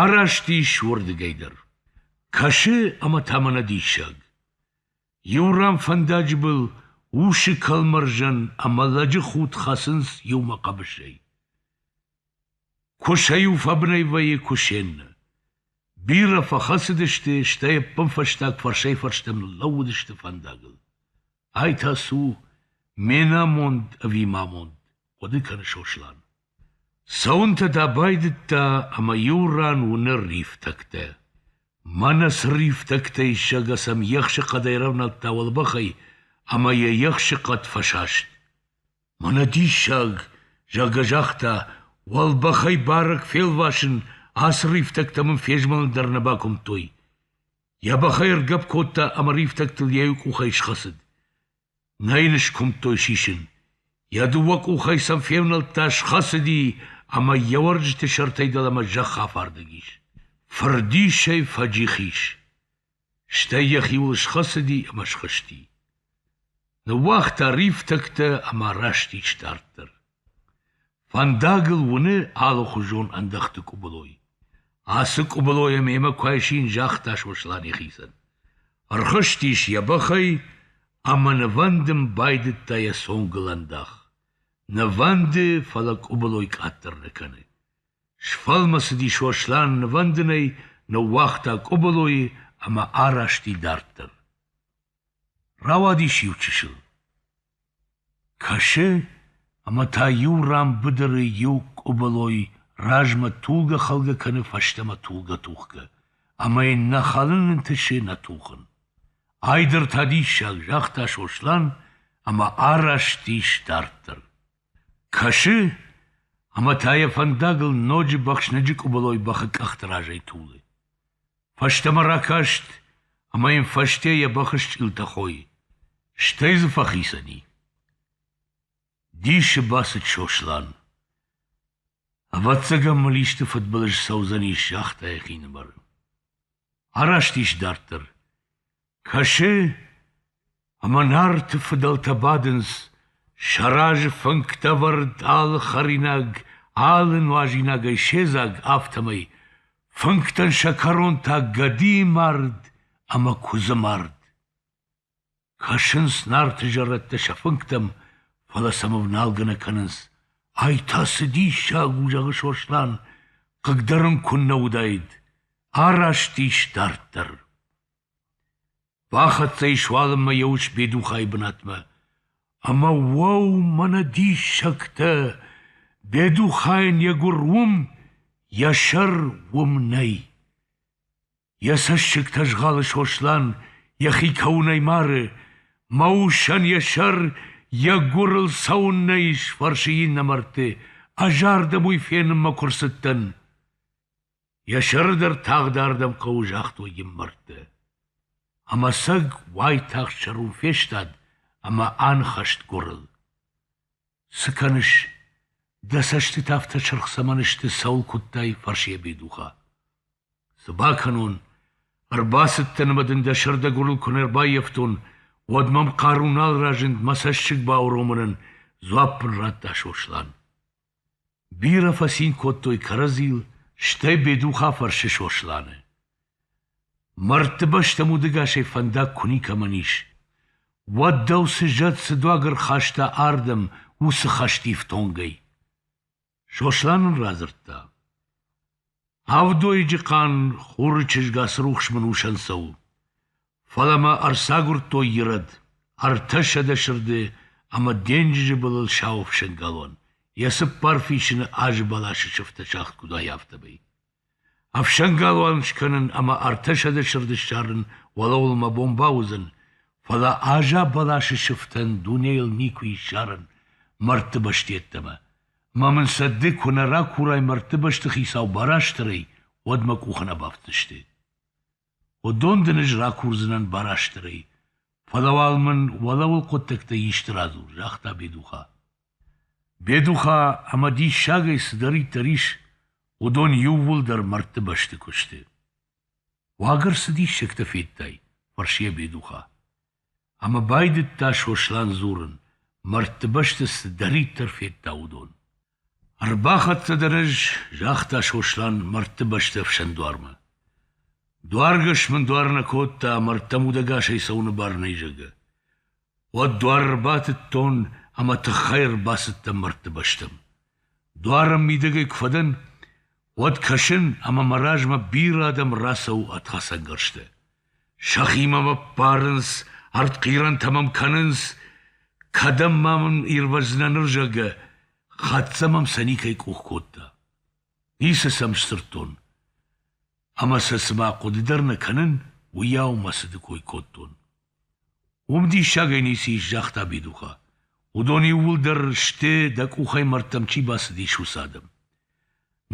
Араст ис уырдыгӕй дӕр. Кӕсы ӕмӕ та мӕнӕ диссаг. Иу ран фӕндаджы был усы кӕлмӕрзӕн ӕмӕ лӕджы худ хӕцынц иумӕ хъӕбысӕй. Куысӕй-иу фӕбынӕй вӕййы кусӕннӕ. Бирӕ фӕхӕцыдысты, стӕй ӕппынфӕстаг фӕрсӕй-фӕрстӕм ныллӕууыдысты фӕндагыл. Ай та цы у? Ме намонд ӕви ма амонд? хъуыды кӕны Сослан. Цӕуынтӕ дӕ байдыдта ӕмӕ иу ран уыны рифтӕгтӕ. Мӕнӕ цы рифтӕгтӕй сӕгасӕм ехсы хъӕдӕй рӕвнӕдта уӕлбӕхӕй ӕмӕ йӕ ехсы хъӕд фӕсаст. Мӕнӕ диссаг, зӕгъгӕ, загъта, уӕлбӕхӕй барӕг фелвасын, ацы рифтӕгтӕ мын фезмӕлын дӕр нӕ бакуымдтой. Йӕ бӕхӕй ӕргӕпп кодта ӕмӕ рифтӕгтыл йӕ иу къухӕй схӕцыд. Нӕ йын скуымдтой сисын. Йӕ дыууӕ къухӕй сӕм февнӕлдта, схӕцыди ӕмӕ йӕ уӕрджыты сӕртӕй дӕлӕмӕ зӕхх афардӕг ис. Фырдисӕй фӕджих ис. Стӕй йӕхиуыл схӕцыди ӕмӕ схызти. Ныууагъта рифтӕгтӕ ӕмӕ раст ис дарддӕр. Фӕндагыл уыны алыхуызон ӕндӕхты къуыбылой. Ацы къуыбылойӕ мемӕ куы айсин, загъта Сослан йӕхицӕн. Ӕрхызтис йӕ бӕхӕй ӕмӕ нывӕндын байдыдта йӕ цонгыл ӕндах. Нывӕнды, фӕлӕ къуыбылой къаддӕр нӕ кӕны. Сфӕлмӕцыди Сослан нывӕндынӕй, ныууагъта къуыбылойы ӕмӕ арасти дарддӕр. Рауадис иучысыл. Кӕсы, ӕмӕ та иу ран быдыры иу къуыбылой размӕ тулгӕ-хӕлгӕ кӕны фӕстӕмӕ тулгӕ-тухгӕ, ӕмӕ йын нӕ хӕлын ӕнтысы, нӕ тухын. Ай дӕр та диссаг, загъта Сослан ӕмӕ араст ис дарддӕр. Кӕсы, ӕмӕ та йӕ фӕндагыл ноджы бӕхсныджы къуыбылой бӕхы къӕхты разӕй тулы. Фӕстӕмӕ ракаст ӕмӕ йын фӕсте йӕ бӕх ысчъилтӕ хойы. Стӕй дзы фӕхицӕн и. Дисы бацыд Сослан. Ӕвӕццӕгӕн мыл исты фыдбылыз цӕудзӕнис загъта йӕхинымӕр. Араст ис дарддӕр. Кӕсы, ӕмӕ Нарты фыдӕлтӕ бадынц, сӕ разы фынгтӕвӕрд алы хӕринаг, алы нуазинагӕй седзаг, афтӕмӕй, фынгтӕн сӕ кӕрон та гӕдийы мард ӕмӕ куыдзы мард. Кӕсынц Нарты зӕрӕдтӕ сӕ фынгтӕм, фӕлӕ сӕм ӕвналгӕ нӕ кӕнынц. Ай та цы диссаг у, зӕгъы Сослан, хъыгдарын куыннӕ уыдаид, араст ис дарддӕр. Фӕхӕццӕ ис уалынмӕ йӕ ус Бедухайы бынатмӕ, ӕмӕ уӕу, мӕнӕ диссӕгтӕ, Бедухайӕн йӕ гуыр уым, йӕ сӕр уым нӕй. Йӕ цӕссыгтӕ згъалы Сослан, йӕхи кӕуынӕй мары, мӕ усӕн йӕ сӕр йӕ гуырыл цӕуыннӕ ис, фӕрсы иннӕ мӕрдты, ӕз ардӕм уый фенынмӕ куы рцыдтӕн. Йӕ сӕры дӕр тагъд ардӕм хъӕуы, загътой йын мӕрдты. Ӕмӕ цӕг уайтагъд сӕрыл фестад ӕмӕ аныхӕст гуырыл. — Цы кӕныс? Дӕ цӕстытӕ афтӕ сырх цӕмӕн сты, цӕуыл куыдтай? — фӕрсы Бедуха. — Цы бакӕнон? Ӕрбацыдтӕн ӕмӕ дын дӕ сӕрдӕгуырыл куы не рбаййӕфтон, уӕд мӕм хъару нал разынд мӕ цӕссыг бауромынӕн, дзуапп ын радта Сослан. Бирӕ фӕцин кодтой кӕрӕдзийыл, стӕй Бедуха фӕрсы Сосланы: «Мӕрдты бӕстӕм удӕгасӕй фӕндаг куы никӕмӕн ис, уӕд дӕу цы зӕд, цы дуагӕр хаста ардӕм уыцы хӕстифтонгӕй?» Сослан ын радзырдта. Авдойыджы хъан Хуры чызг Ацырухс мын усӕн цӕуы. Фӕлӕ мӕ ӕрцагуырдтой ирӕд, ӕртӕсӕдӕ сырды ӕмӕ денджызы былыл сау ӕфсӕнгалуан, йӕ цыппар фисыны азы бӕласы сыфтӕ сагъд куыд уай, афтӕмӕй. Ӕфсӕнгалуан скӕнын ӕмӕ ӕртӕсӕдӕ сырды ссарын уӕлӕуыл мӕ бон бауыдзӕн, фӕлӕ аза бӕласы сыфтӕн дунейыл никуы ссарын мӕрдты бӕсты йеддӕмӕ. Ма мын сӕ ды куы нӕ ракурай мӕрдты бӕсты хицау Барастырӕй, уӕд мӕ къухы нӕ бафтдзысты. Уыдон дын ӕз ракурдзынӕн Барастырӕй, фӕлӕ уал мын уӕлӕуыл хъуыддӕгтӕй исты радзур, загъта Бедуха. Бедуха ӕмӕ диссагӕй цыдӕриддӕр ис, уыдон иууылдӕр мӕрдты бӕсты куы сты. Уаг ӕрцы диссӕгтӕ федтай? фӕрсы йӕ Бедуха. Ӕмӕ байдыдта Сослан дзурын, мӕрдтыбӕсты цыдӕриддӕр федта, уыдон. Ӕрбахӕццӕ дӕр ӕз, загъта Сослан мӕрдтыбӕсты ӕфсӕн дуармӕ. Дуаргӕс мын дуар нӕ кодта, мӕрдтӕм удӕгасӕй цӕуыны бар нӕй, зӕгъгӕ. Уӕд дуар ӕрбатыдтон ӕмӕ тыххӕй ӕрбацыдтӕн мӕрдтыбӕстӕм. Дуарӕн мидӕгӕй куы фӕдӕн, уӕд кӕсын ӕмӕ мӕ размӕ бирӕ адӕм рацӕуы ӕд хӕцӕнгӕрзтӕ. сӕхимӕ мӕ ппарынц, ӕртхъирӕнтӕ мӕм кӕнынц, кӕдӕм ма мын ирвӕздзынӕ ныр, зӕгъгӕ, хӕццӕ мӕм сӕ никӕй къух кодта. Ницы сӕм сдзырдтон. Ӕмӕ сӕ цыма хъуыды дӕр нӕ кӕнын, уыйау мӕ цыды кой кодтон. Уым диссагӕй ницы ис, загъта Бидухъа. Уыдон иууылдӕр сты, дӕ къухӕй мӕрдтӕм чи бацыдис, уыцы адӕм.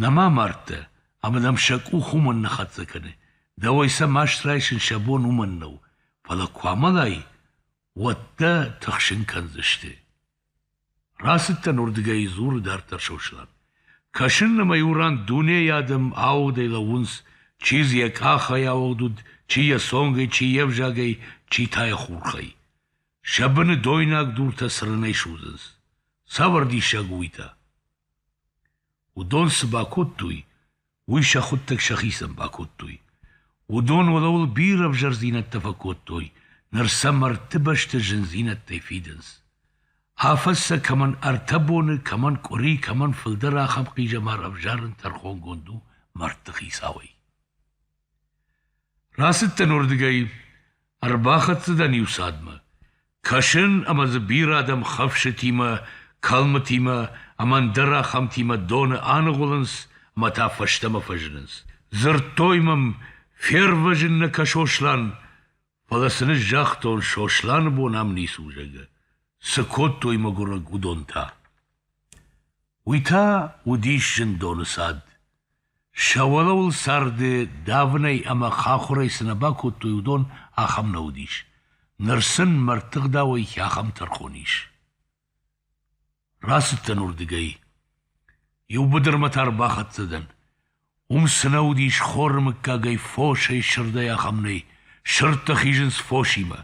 Нӕма мӕрдтӕ, ӕмӕ нӕм сӕ къух уымӕн нӕ хӕццӕ кӕны. Дӕуӕй сӕ маст райсын сӕ бон уымӕн нӕу, фӕлӕ куы амӕлай, уӕд дӕ тыхсын кӕндзысты. Рацыдтӕн уырдыгӕй, дзуры дарддӕр Сослан. Кӕсын ӕмӕ иу ран дунейы адӕм аудӕй лӕууынц, чи дзы йӕ къахӕй ауыгъд уыд, чи йӕ цонгӕй, чи йе взагӕй, чи та йӕ хурхӕй. Сӕ быны дойнаг дуртӕ цырынӕй судзынц. Цавӕр диссаг у уый та? Уыдон цы бакодтой, уый сӕ хуыддӕг сӕхицӕн бакодтой. Уыдон уӕлӕуыл бирӕ ӕвзӕрдзинӕдтӕ фӕкодтой, ныр сӕ мӕрдты бӕсты зындзинӕдтӕй фидынц. Афӕдз сӕ кӕмӕн ӕртӕ боны, кӕмӕн къуыри, кӕмӕн фылдӕр ахӕм хъизӕмар ӕвзарын тӕрхонгонд у мӕрдты хицауӕй. Рацыдтӕн уырдыгӕй, ӕрбахӕццӕ дӕн иу цадмӕ. Кӕсын ӕмӕ дзы бирӕ адӕм хӕфсытимӕ, кӕлмытимӕ ӕмӕ ӕндӕр ахӕмтимӕ доны аныгъуылынц ӕмӕ та фӕстӕмӕ фӕзынынц. Дзырдтой мӕм, фервӕзын нӕ кӕ Сослан, фӕлӕ сын ӕз загътон, Сосланы бон ам ницы у, зӕгъгӕ. Цы кодтой мӕгуырӕг уыдон та? Уый та уыдис зындоны цад. Сӕ уӕлӕуыл царды давынӕй ӕмӕ хахуырӕй цы нӕ бакодтой, уыдон ахӕм нӕ уыдис. ныр сын мӕрдтыгъдауӕй ахӕм тӕрхон ис. Рацыдтӕн уырдыгӕй. Иу быдырмӕ та ӕрбахӕццӕ дӕн. Уым цы нӕ уыдис хоры мыггагӕй фосӕй сырдӕй ахӕм нӕй, сырдтӕ хизынц фосимӕ.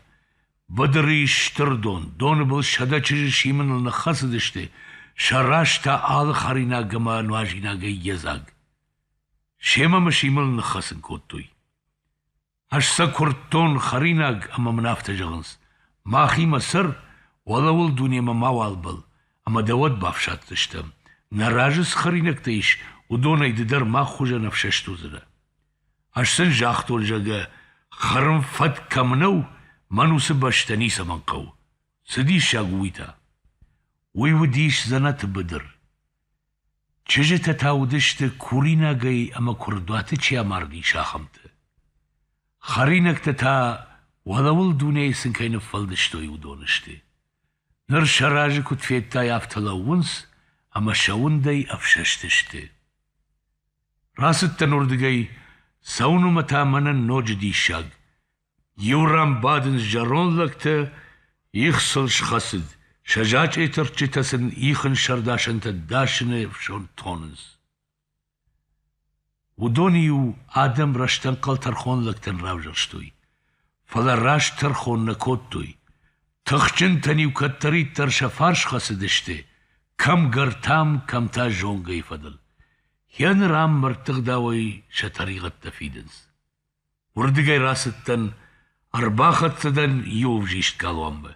Быдырыйы стыр дон, доны был сӕдӕ чызджы симыныл ныххӕцыдысты, сӕ раз та алы хӕринаг ӕмӕ нуазинагӕй йедзаг. Семӕ мы симыл ныххӕцын кодтой. Ӕз сӕ куырдтон хӕринаг ӕмӕ мын афтӕ зӕгъынц: махимӕ цӕр, уӕлӕуыл дунемӕ мауал бӕл, ӕмӕ дӕ уӕд бафсаддзыстӕм. нӕ разы цы хӕринӕгтӕ ис, уыдонӕй ды дӕр мах хуызӕн ӕфсӕст уыдзынӕ. Ӕз сын загътон, зӕгъгӕ, хӕрын фӕд кӕм нӕу, мӕн уыцы бӕстӕ ницӕмӕн хъӕуы. цы диссаг у уый та? Уый уыдис дзӕнӕты быдыр. Чызджытӕ та уыдысты, куринагӕй ӕмӕ куырдуаты чи амардис, ахӕмтӕ. Хӕринӕгтӕ та, уӕлӕуыл дунейы сын кӕй ныффӕлдыстой, уыдон сты. Ныр сӕ разы куыд федтай, афтӕ лӕууынц, ӕмӕ сӕ уындӕй ӕфсӕст сты. Рацыдтӕн уырдыгӕй, цӕуын уымӕ та мӕнӕн ноджы диссаг. Иу ран бадынц зӕронд лӕгтӕ, их сыл схӕцыд, сӕ зачъеты рчытӕ сын ихын сӕрдасӕнтӕ дасыны ӕфсон тонынц. Уыдон-иу адӕм рӕстӕнхъӕл тӕрхон лӕгтӕн равзӕрстой, фӕлӕ раст тӕрхон нӕ кодтой. Тыхджынтӕн-иу кӕддӕриддӕр сӕ фарс хӕцыдысты, кӕмгӕртӕм, кӕм та зонгӕйы фӕдыл. Йӕ ныр ам мӕрдтыгъдауӕй сӕ тӕригъӕдтӕ фидынц. Уырдыгӕй рацыдтӕн, ӕрбахӕццӕ дӕн иу ӕвзист галуанмӕ.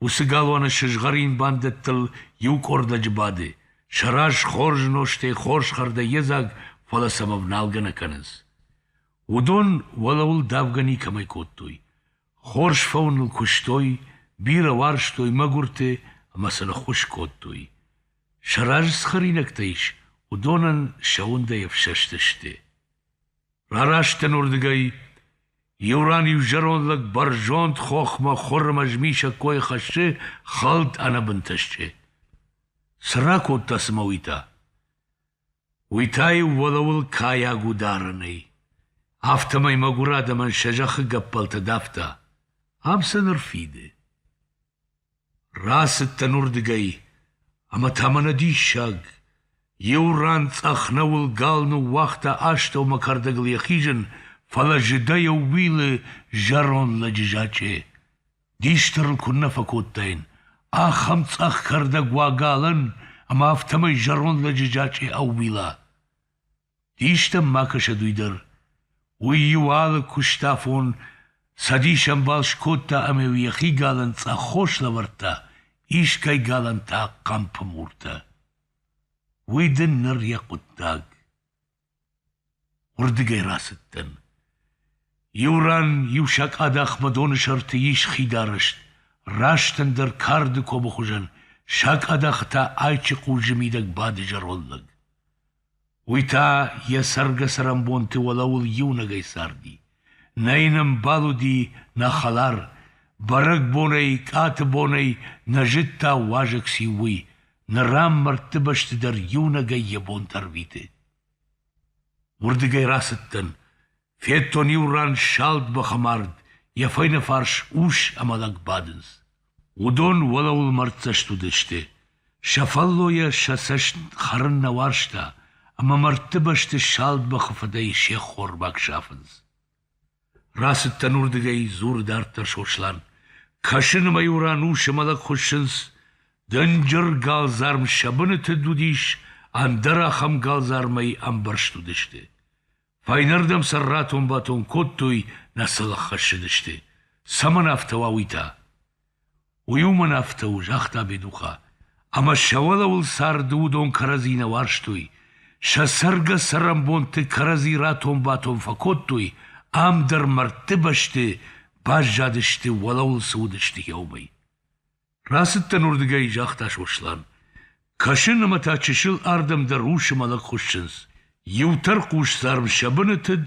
Уыцы галуаны сызгъӕрин бандӕттыл иу къордӕджы бады, сӕ раз хорз нозтӕй хорз хӕрдӕй едзаг, фӕлӕ сӕм ӕвналгӕ нӕ кӕнынц. Уыдон уӕлӕуыл давгӕ никӕмӕй кодтой. Хорз фӕуыныл куыстой, бирӕ уарзтой мӕгуырты ӕмӕ сын ӕххуыс кодтой. Сӕ разы цы хӕринӕгтӕ ис, уыдонӕн сӕ уындӕй ӕфсӕстысты. Рараст дӕн уырдыгӕй, иу ран-иу зӕронд лӕг бӕрзонд хохмӕ хуыр ӕмӕ змисӕг койы хӕссы хӕлд ӕнӕбынтӕ стъе. Цы ракодта цымӕ уый та? Уый та-иу уӕлӕуыл кайаг у дарынӕй, афтӕмӕй мӕгуыр адӕмӕн сӕ зӕххы гӕппӕлтӕ давта. Ам сын ӕрфиды. Рацыдтӕн уырдыгӕй, ӕмӕ та мӕнӕ диссаг! Иу ран цъӕх нӕуыл гал ныууагъта астӕумӕ кӕрдӕгыл йӕ хизын, фӕлӕ зыдӕй ӕууилы зӕронд лӕджы зачъе. Дис дӕр ын куыннӕ фӕкодтаин, ахӕм цъӕх кӕрдӕг уагалӕн ӕмӕ афтӕмӕй зӕронд лӕджы зачъе ӕууила. Дистӕн ма кӕсӕд уый дӕр. Уый иу алы куыстафон цӕдис ӕмбал скодта ӕмӕ-иу йӕхи галӕн цъӕххос лӕвӕрдта, искӕй галӕн та хъӕмпы муртӕ. Уый дын ныр йӕ хъуыддаг. Уырдыгӕй рацыдтӕн. Иу ран иу сакъадахмӕ доны сӕрты ис хидарӕст, раст ӕндӕр карды комы хуызӕн, сакъадахы та айчы хъузджы мидӕг бады зӕронд лӕг. Уый та йӕ цӕргӕ-цӕрӕнбонты уӕлӕуыл иунӕгӕй царди. Нӕ йын ӕмбал уыди нӕ хӕлар, бӕрӕгбонӕй, къаты бонӕй нӕ зыдта уазӕг циу, уый, ныр ӕм мӕрдты бӕсты дӕр иунӕгӕй йӕ бон дӕр уиты. Уырдыгӕй рацыдтӕн, федтон иу ран салд бӕхы мард, йӕ фӕйнӕфарс ус ӕмӕ лӕг бадынц. Уыдон уӕлӕуыл мӕрддзӕст уыдысты, сӕ фӕллойӕ сӕ цӕст хӕрын нӕ уарзта, ӕмӕ мӕрдты бӕсты салд бӕхы фыдӕй се ххормаг сафынц. Рацыдтӕн уырдыгӕй, дзуры дарддӕр Сослан. Кӕсын ӕмӕ иу ран усы мӕлӕт хуыссынц, дынджыр галдзарм сӕ быныты уыдис, ӕндӕр ахӕм галдзармӕй ӕмбӕрзт уыдысты. Фӕйнӕрдӕм сӕ ратон-батон кодтой, нӕ сыл ӕххӕссыдысты. Цӕмӕн афтӕ уа уый та? Уый уымӕн афтӕ у, загъта Бедуха, ӕмӕ сӕ уӕлӕуыл царды уыдон кӕрӕдзи нӕ уарзтой. Сӕ цӕргӕ-цӕрӕнбонты кӕрӕдзи ратон-батон фӕкодтой, ам дӕр мӕрдты бӕсты баззадысты, уӕлӕуыл цы уыдысты, уымӕй. Рацыдтӕн уырдыгӕй, загъта Сослан. Кӕсын ӕмӕ та чысыл ардӕм дӕр усы мӕлӕт хуыссынц. Иу тӕрхъусдзарм сӕ бынытыд,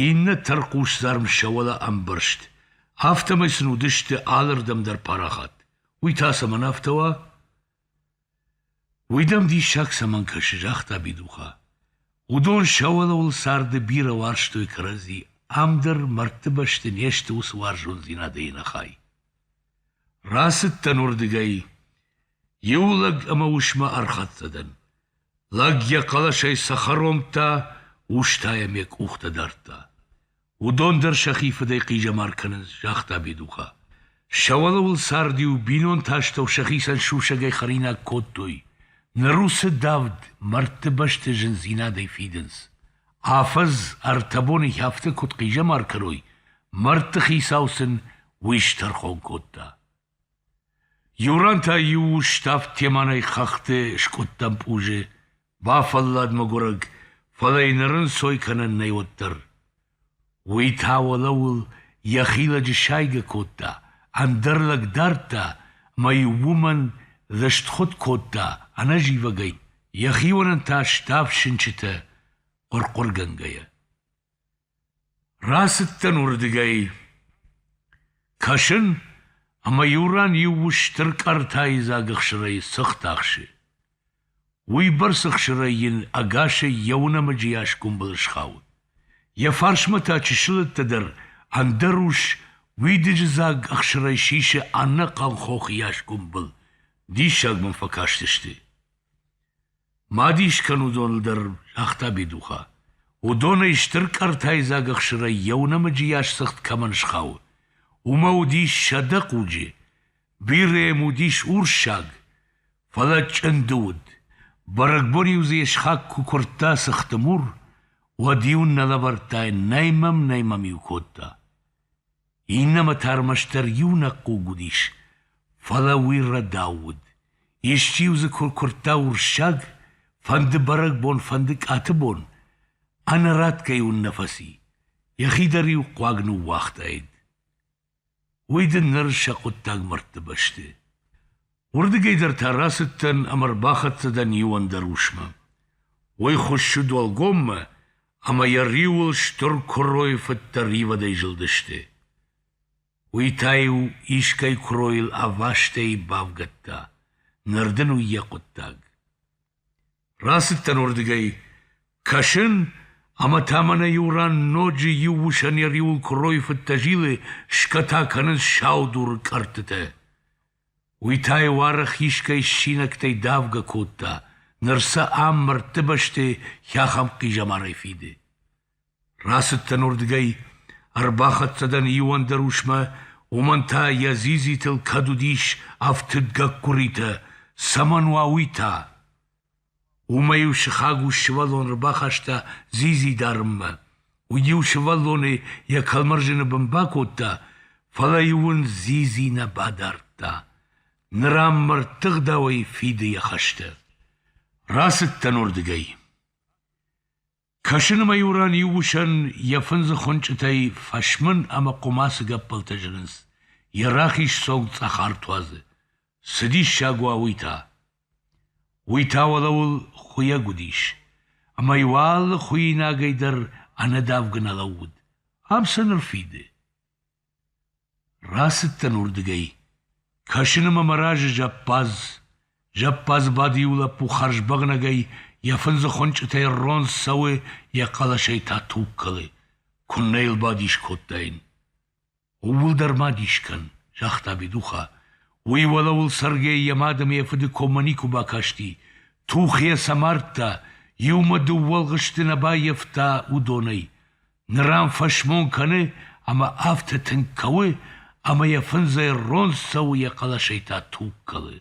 иннӕ тӕрхъусдзарм сӕ уӕлӕ ӕмбӕрзт. Афтӕмӕй сын уыдысты алырдӕм дӕр парахат. Уый та цӕмӕн афтӕ уа? Уый дӕм диссаг цӕмӕн кӕсы, загъта Бидуха. Уыдон сӕ уӕлӕуыл царды бирӕ уарзтой кӕрӕдзи, ам дӕр мӕрдты бӕсты не сты уыцы уарзондзинадӕй ӕнӕхай. Рацыдтӕн уырдыгӕй. Иу лӕг ӕмӕ усмӕ ӕрхӕццӕ дӕн. Лӕг йӕ хъӕлӕсӕй цӕхӕр омдта, ус та йӕм йӕ къухтӕ дардта. Уыдон дӕр сӕхи фыдӕй хъизӕмар кӕнынц, загъта Бедуха. Сӕ уӕлӕуыл цард-иу бинонты астӕу сӕхицӕн сусӕгӕй хӕринаг кодтой. Ныр уыцы давд мӕрдты бӕсты зындзинадӕй фидынц. Афӕдз ӕртӕ боны хӕфты куыд хъизӕмар кӕной, мӕрдты хицау сын уый стӕрхон кодта. Иу ран та иу ус ставд теманӕй хӕхты скъуыдтӕм пъузы, бафӕллад мӕгуырӕг, фӕлӕ йын ӕрӕнцой кӕнӕн нӕй уӕддӕр. Уый та уӕлӕуыл йӕхи лӕджы сайгӕ кодта, ӕндӕр лӕг дардта ӕмӕ-иу уымӕн лыстхуыд кодта ӕнӕзивӕгӕй, йӕхионӕн та ставд сынчытӕ хъуыр-хъуыргӕнгӕйӕ. Рацыдтӕн уырдыгӕй. Кӕсын, ӕмӕ иу ран иу ус стыр къӕртайы дзаг ӕхсырӕй цыхт ахсы. Уыйбӕрц ӕхсырӕй йын ӕгасӕй йӕ уынӕмӕджы йас гуымбыл схауы. Йӕ фарсмӕ та чысылӕттӕ дӕр ӕндӕр ус уидыджы дзаг ӕхсырӕй сисы ӕнӕхъӕн хох йас гуымбыл. Диссаг мӕм фӕкастысты. Ма дис кӕн уыдоныл дӕр, загъта Бедуха. Уыдонӕй стыр къӕртайдзаг ӕхсырӕй йӕ нӕмыджы ясцыгъд кӕмӕн схауы. Уымӕ уыдис сӕдӕ хъуджы, бирӕ йӕм уыдис урссаг, фӕлӕ чъынды уыд. Бӕрӕгбон-иу дзы йе схаг куы куырдта цыхты мур, уӕд-иу нӕ лӕвӕрдта йын, нӕй мӕм, нӕй мӕм-иу кодта. Иннӕмӕ та ӕрмӕстдӕр иунӕг хъуг уыдис, фӕлӕ уый рӕдау уыд. Исчи-иу дзы куы ркуырдта урссаг, фӕнды бӕрӕгбон, фӕнды къаты бон, ӕнӕратгӕ-иу ын нӕ фӕци, йӕхи дӕр-иу хъуаг ныууагътаид. Уый дын ныр сӕ хъуыддаг мӕрдты бӕсты. Уырдыгӕй дӕр та рацыдтӕн ӕмӕ рбахӕццӕ дӕн иу ӕндӕр усмӕ. Уый хуыссыд уӕлгоммӕ, ӕмӕ йӕ риуыл стыр куыройы фыдтӕ ривӕдӕй зылдысты. Уый та-иу искӕй куыройыл ӕвастӕй бавгӕдта, ныр дын уый йӕ хъуыддаг. Рацыдтӕн уырдыгӕй, кӕсын, ӕмӕ та мӕнӕ иу ран ноджы иу усӕн йӕ риуыл куыройы фыдтӕ зилы, скӕта кӕнынц сау дуры кӕрдтытӕ. Уый та йӕ уары хисгай ссинӕгтӕй давгӕ кодта, ныр сӕ ам мӕрдты бӕсты хӕхӕм хъизӕмарӕй фиды. Рацыдтӕн уырдыгӕй, ӕрбахӕццӕ дӕн иу ӕндӕр усмӕ, уымӕн та йӕ дзидзитыл кӕд уыдис ӕфтыд гӕккуыритӕ, цӕмӕн уа уый та? Уымӕ-иу сыхаг ус сывӕллон ӕрбахаста дзидзи дарынмӕ. Уый-иу сывӕллонӕй йӕ кӕлмӕрзӕны бын бакодта, фӕлӕ-иу ын дзидзи нӕ бадардта. Ныр ам мӕрдтыгъдауӕй фиды йӕ хӕстӕ. Рацыдтӕн уырдыгӕй. Кӕсынмӕ-иу ран иу усӕн йӕ фындзы хуынчъытӕй фӕсмын ӕмӕ хъуымацы гӕппӕлтӕ зынынц, йӕ рахиз цонг цъӕхӕр туадзы. Цы диссаг уа уый та! Уый та уӕлӕуыл хуыйӕг уыдис, ӕмӕ-иу алы хуыйинагӕй дӕр ӕнӕдавгӕ нӕ лӕууыд. Ам цы ныр фиды? Рацыдтӕн уырдыгӕй, кӕсыны мӕ мӕ разы зӕппадз. Зӕппадз бадиуы лӕппу хӕрзбӕгънӕгӕй йӕ фындзы хуынчъытӕй ронг цӕуы, йӕ хъӕлӕсӕй та туг кӕлы. Куыннӕ йыл бадис кодтаин! Ууыл дӕр ма дис кӕн, загъта Бедуха. Уый уӕлӕуыл Сергей йӕ мад ӕмӕ йӕ фыды коммӕ никуы бакасти. Тух йӕ сӕ мардта, иумӕ дыууӕ ӕлгъысты нӕ баййӕфта уыдонӕй. Ныр ӕм фӕсмон кӕны ӕмӕ афтӕ тынг кӕуы, ӕмӕ йӕ фындзӕй ронд цӕуы йӕ хъӕлӕсӕй та туг кӕлы.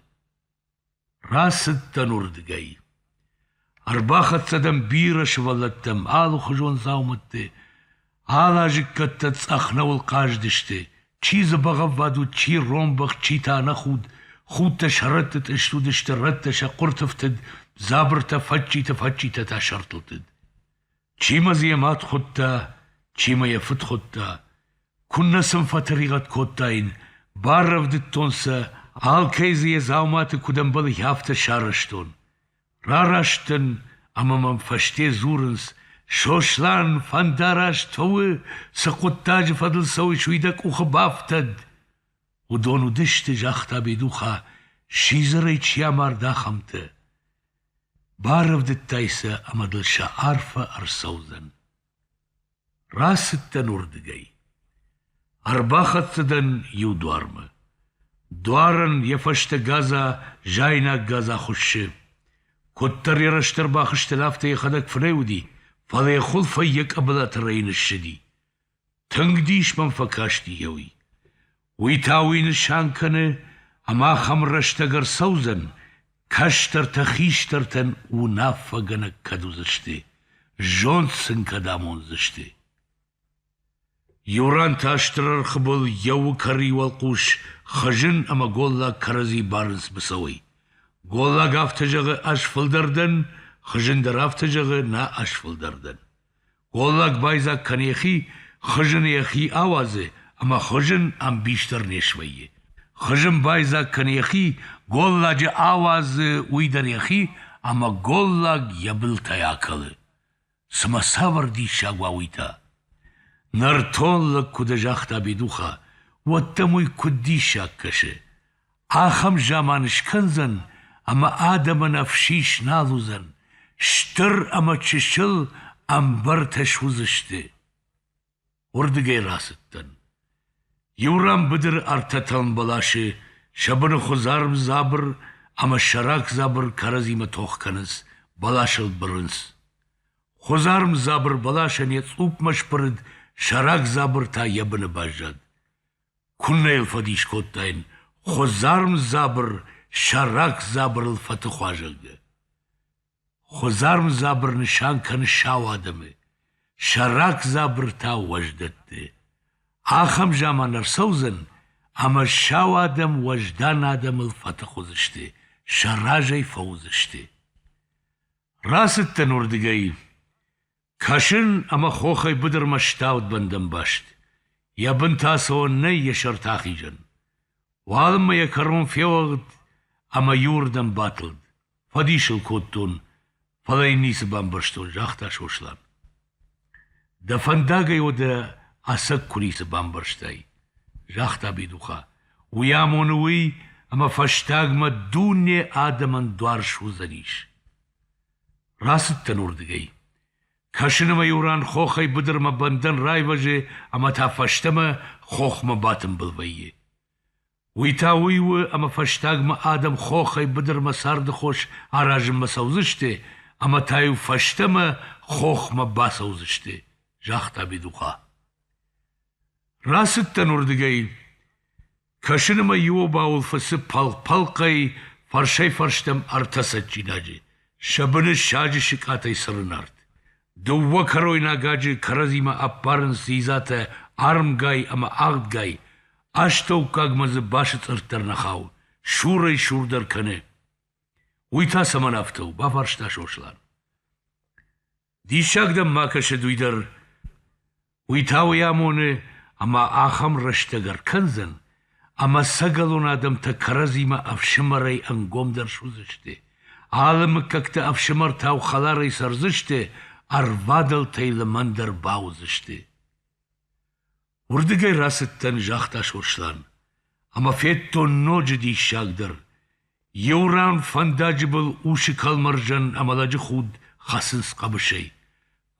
Рацыдтӕн уырдыгӕй. Ӕрбахӕццӕ дӕн бирӕ сывӕллӕттӕм алыхуызон дзаумӕтты, алы азыккӕттӕ цъӕхнӕуыл хъазыдысты, чи дзӕбӕгӕввад уыд, чи ронбӕхт, чи та ӕнӕхуд, худтӕ сӕрӕтты тъыст уыдысты, рӕттӕ сӕ къуыртыфтыд, дзабыртӕ фӕдджиты-фӕдджитӕ та сӕртылтыд. Чи ма дзы йӕ мад хуыдта, чи ма йӕ фыд хуыдта, куыннӕ сын фӕтӕригъӕд кодтаин, баррӕвдыдтон сӕ, алкӕй дзы йӕ дзауматы куыд ӕмбӕлы, афтӕ сарӕзтон. Рараст дӕн ӕмӕ мӕм фӕсте дзурынц, Сослан, фӕндараст фӕуы, цы хъуыддаджы фӕдыл цӕуыс, уый дӕ къухы бафтӕд. Уыдон уыдысты, загъта Бедуха, сидзӕрӕй чи амард, ахӕмтӕ. Барӕвдыдтай сӕ ӕмӕ дыл сӕ арфӕ ӕрцӕудзӕн. Рацыдтӕн уырдыгӕй. Ӕрбахӕццӕ дӕн иу дуармӕ. Дуарӕн йӕ фӕстӕ гадза, зайнаг гадза хуыссы. Куыддӕр йӕ рӕстӕр бахызтӕн, афтӕ йӕхӕдӕг фынӕй уыди, фӕлӕ йӕ хуылфӕй йӕ къӕбылаты рӕйын ссыди. Тынг дис мӕм фӕкасти йӕуи. Уый та уый нысан кӕны, ӕмӕ ахӕм рӕстӕг ӕрцӕудзӕн, кӕстӕртӕ хистӕртӕн уынаффӕгӕнӕг кӕд уыдзысты, зонд сын кӕд амондзысты. Иуран та стыр ӕрхы был йӕ уыкӕрыйы уӕлхъус хызын ӕмӕ голлаг кӕрӕдзи барынц быцӕуӕй. Голлаг афтӕ зӕгъы, ӕз фылдӕр дӕн, хызын дӕр афтӕ зӕгъы, нӕ ӕз фылдӕр дӕн. Уӕллаг байдзаг кӕны йӕхи, хызын йӕхи ауадзы, ӕмӕ хызын ӕмбис дӕр не свӕййы. Хызын байдзаг кӕны йӕхи, голладжы ауадзы уый дӕр йӕхи, ӕмӕ голлаг йӕ былтӕй акӕлы. Цымӕ цавӕр диссаг уа уый та? Нӕртон лӕг куыд загъта Бедуха, уӕд дӕм уый куыд диссаг кӕсы? Ахӕм заман скӕндзӕн, ӕмӕ адӕмӕн ӕфсис нал уыдзӕн, стыр ӕмӕ чысыл ӕмбыртӕ суыдзысты. Уырдыгӕй рацыдтӕн. Иу ран быдыры ӕртӕтӕм бӕласы сӕ быны хуыдзарм дзабыр ӕмӕ сӕрак дзабыр кӕрӕдзимӕ тох кӕнынц, бӕласыл бырынц. Хуыдзарм дзабыр бӕласӕн йӕ цъупмӕ сбырыд, сӕрак дзабыр та йӕ быны баззад. Куыннӕ йыл фӕдис кодтаин, хуыдзарм дзабыр сӕ рак дзабырыл фӕтых уа, зӕгъгӕ. Хуыдзарм дзабыр нысан кӕны сау адӕмы, сӕ рак дзабыр та уӕздӕтты. Ахӕм заман ӕрцӕудзӕн, ӕмӕ сау адӕм уӕздан адӕмыл фӕтых уыдзысты, сӕ разӕй фӕуыдзысты. Рацыдтӕн уырдыгӕй. Кӕсын ӕмӕ хохӕй быдырмӕ стӕвд бӕндӕнбаст. Йӕ бын та цӕуӕн нӕй йӕ сӕрты ахизӕн. Уалынмӕ йӕ кӕрон феуӕгъд ӕмӕ иуырдӕм батылд. Фӕдис ыл кодтон, фӕлӕ йын ницы бамбӕрстон, загъта Сослан. Дӕ фӕндагӕй уӕдӕ ӕцӕг куы ницы бамбӕрстай, загъта Бедуха. Уый амоны уый, ӕмӕ фӕстагмӕ дуне адӕмӕн дуар суыдзӕнис. Рацыдтӕн уырдыгӕй. Кӕсын ӕмӕ-иу ран хохӕй быдырмӕ бӕндӕн райвӕзы ӕмӕ та фӕстӕмӕ хохмӕ батымбыл вӕййы. Уый та уый у, ӕмӕ фӕстагмӕ адӕм хохӕй быдырмӕ цардыхос аразынмӕ цӕудзысты ӕмӕ та-иу фӕстӕмӕ хохмӕ бацӕудзысты, загъта Бедуха. Рацыдтӕн уырдыгӕй. Кӕсыны мӕ иу обауыл фӕцы пӕлхъ-пӕлхъӕй фӕрсӕй-фӕрстӕм ӕртӕ цӕджджинаджы, сӕ быны саджы сыкъатӕй цырын арт. Дыууӕ кӕройнаг аджы кӕрӕдзимӕ ӕппарынц дзидзатӕ армгай ӕмӕ агъдгай, астӕуккагмӕ дзы басыцъыртт дӕр нӕ хауы, сурӕй-сур дӕр кӕны. Уый та цӕмӕн афтӕ у? бафарста Сослан. Диссаг дӕм ма кӕсы уый дӕр. Уый та уый амоны, ӕмӕ ахӕм рӕстӕг ӕркӕндзӕн, ӕмӕ сӕгӕлон адӕмтӕ кӕрӕдзимӕ ӕфсымӕрӕй ӕнгомдӕр суыдзысты. Алы мыггӕгты ӕфсымӕртау хӕларӕй цӕрдзысты, ӕрвадӕлтӕй лымӕндӕр бауыдзысты. Уырдыгӕй рацыдтӕн, загъта Сослан, ӕмӕ федтон ноджы диссагдӕр. Иу ран фӕндаджы был усы кӕлмӕрзӕн ӕмӕ лӕджы худ хӕцынц хъӕбысӕй.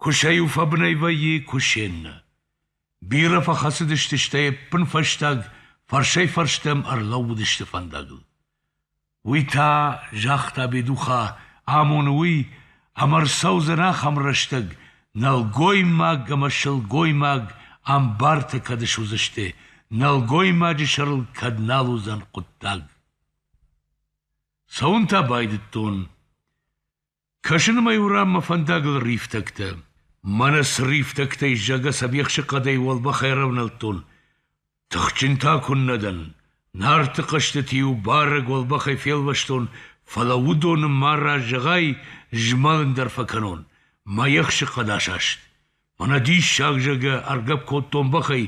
Куысӕ-иу фӕбынӕй вӕййы, куысе нӕ. Бирӕ фӕхӕцыдысты, стӕй ӕппынфӕстаг фӕрсӕй-фӕрстӕм ӕрлӕууыдысты фӕндагыл. Уый та, загъта Бедуха, амоны уый, ӕмӕ рцӕудзӕн ахӕм рӕстӕг, нӕлгоймаг ӕмӕ сылгоймаг ӕмбарты кӕд суыдзысты, нӕлгоймаджы сӕрыл кӕд нал уыдзӕн хъуыддаг. Цӕуын та байдыдтон. Кӕсынмӕ-иу рӕм мӕ фӕндагыл рифтӕгтӕ. Мӕнӕ цы рифтӕгтӕй, зӕгъгӕ, сӕ бехсы хъӕдӕй уӕлбӕх ӕрӕвнӕлдтон. Тыхджын та куыннӕ дӕн! Нарты хъӕзтыты-иу барӕг уӕлбӕхӕй фелвӕстон, фӕлӕ уыдоны ма раз зӕгъай, змӕлын дӕр фӕкӕнон. Мӕ ехсы хъӕд асаст. Мӕнӕ диссаг зӕгӕ ӕргӕпп кодтон бӕхӕй,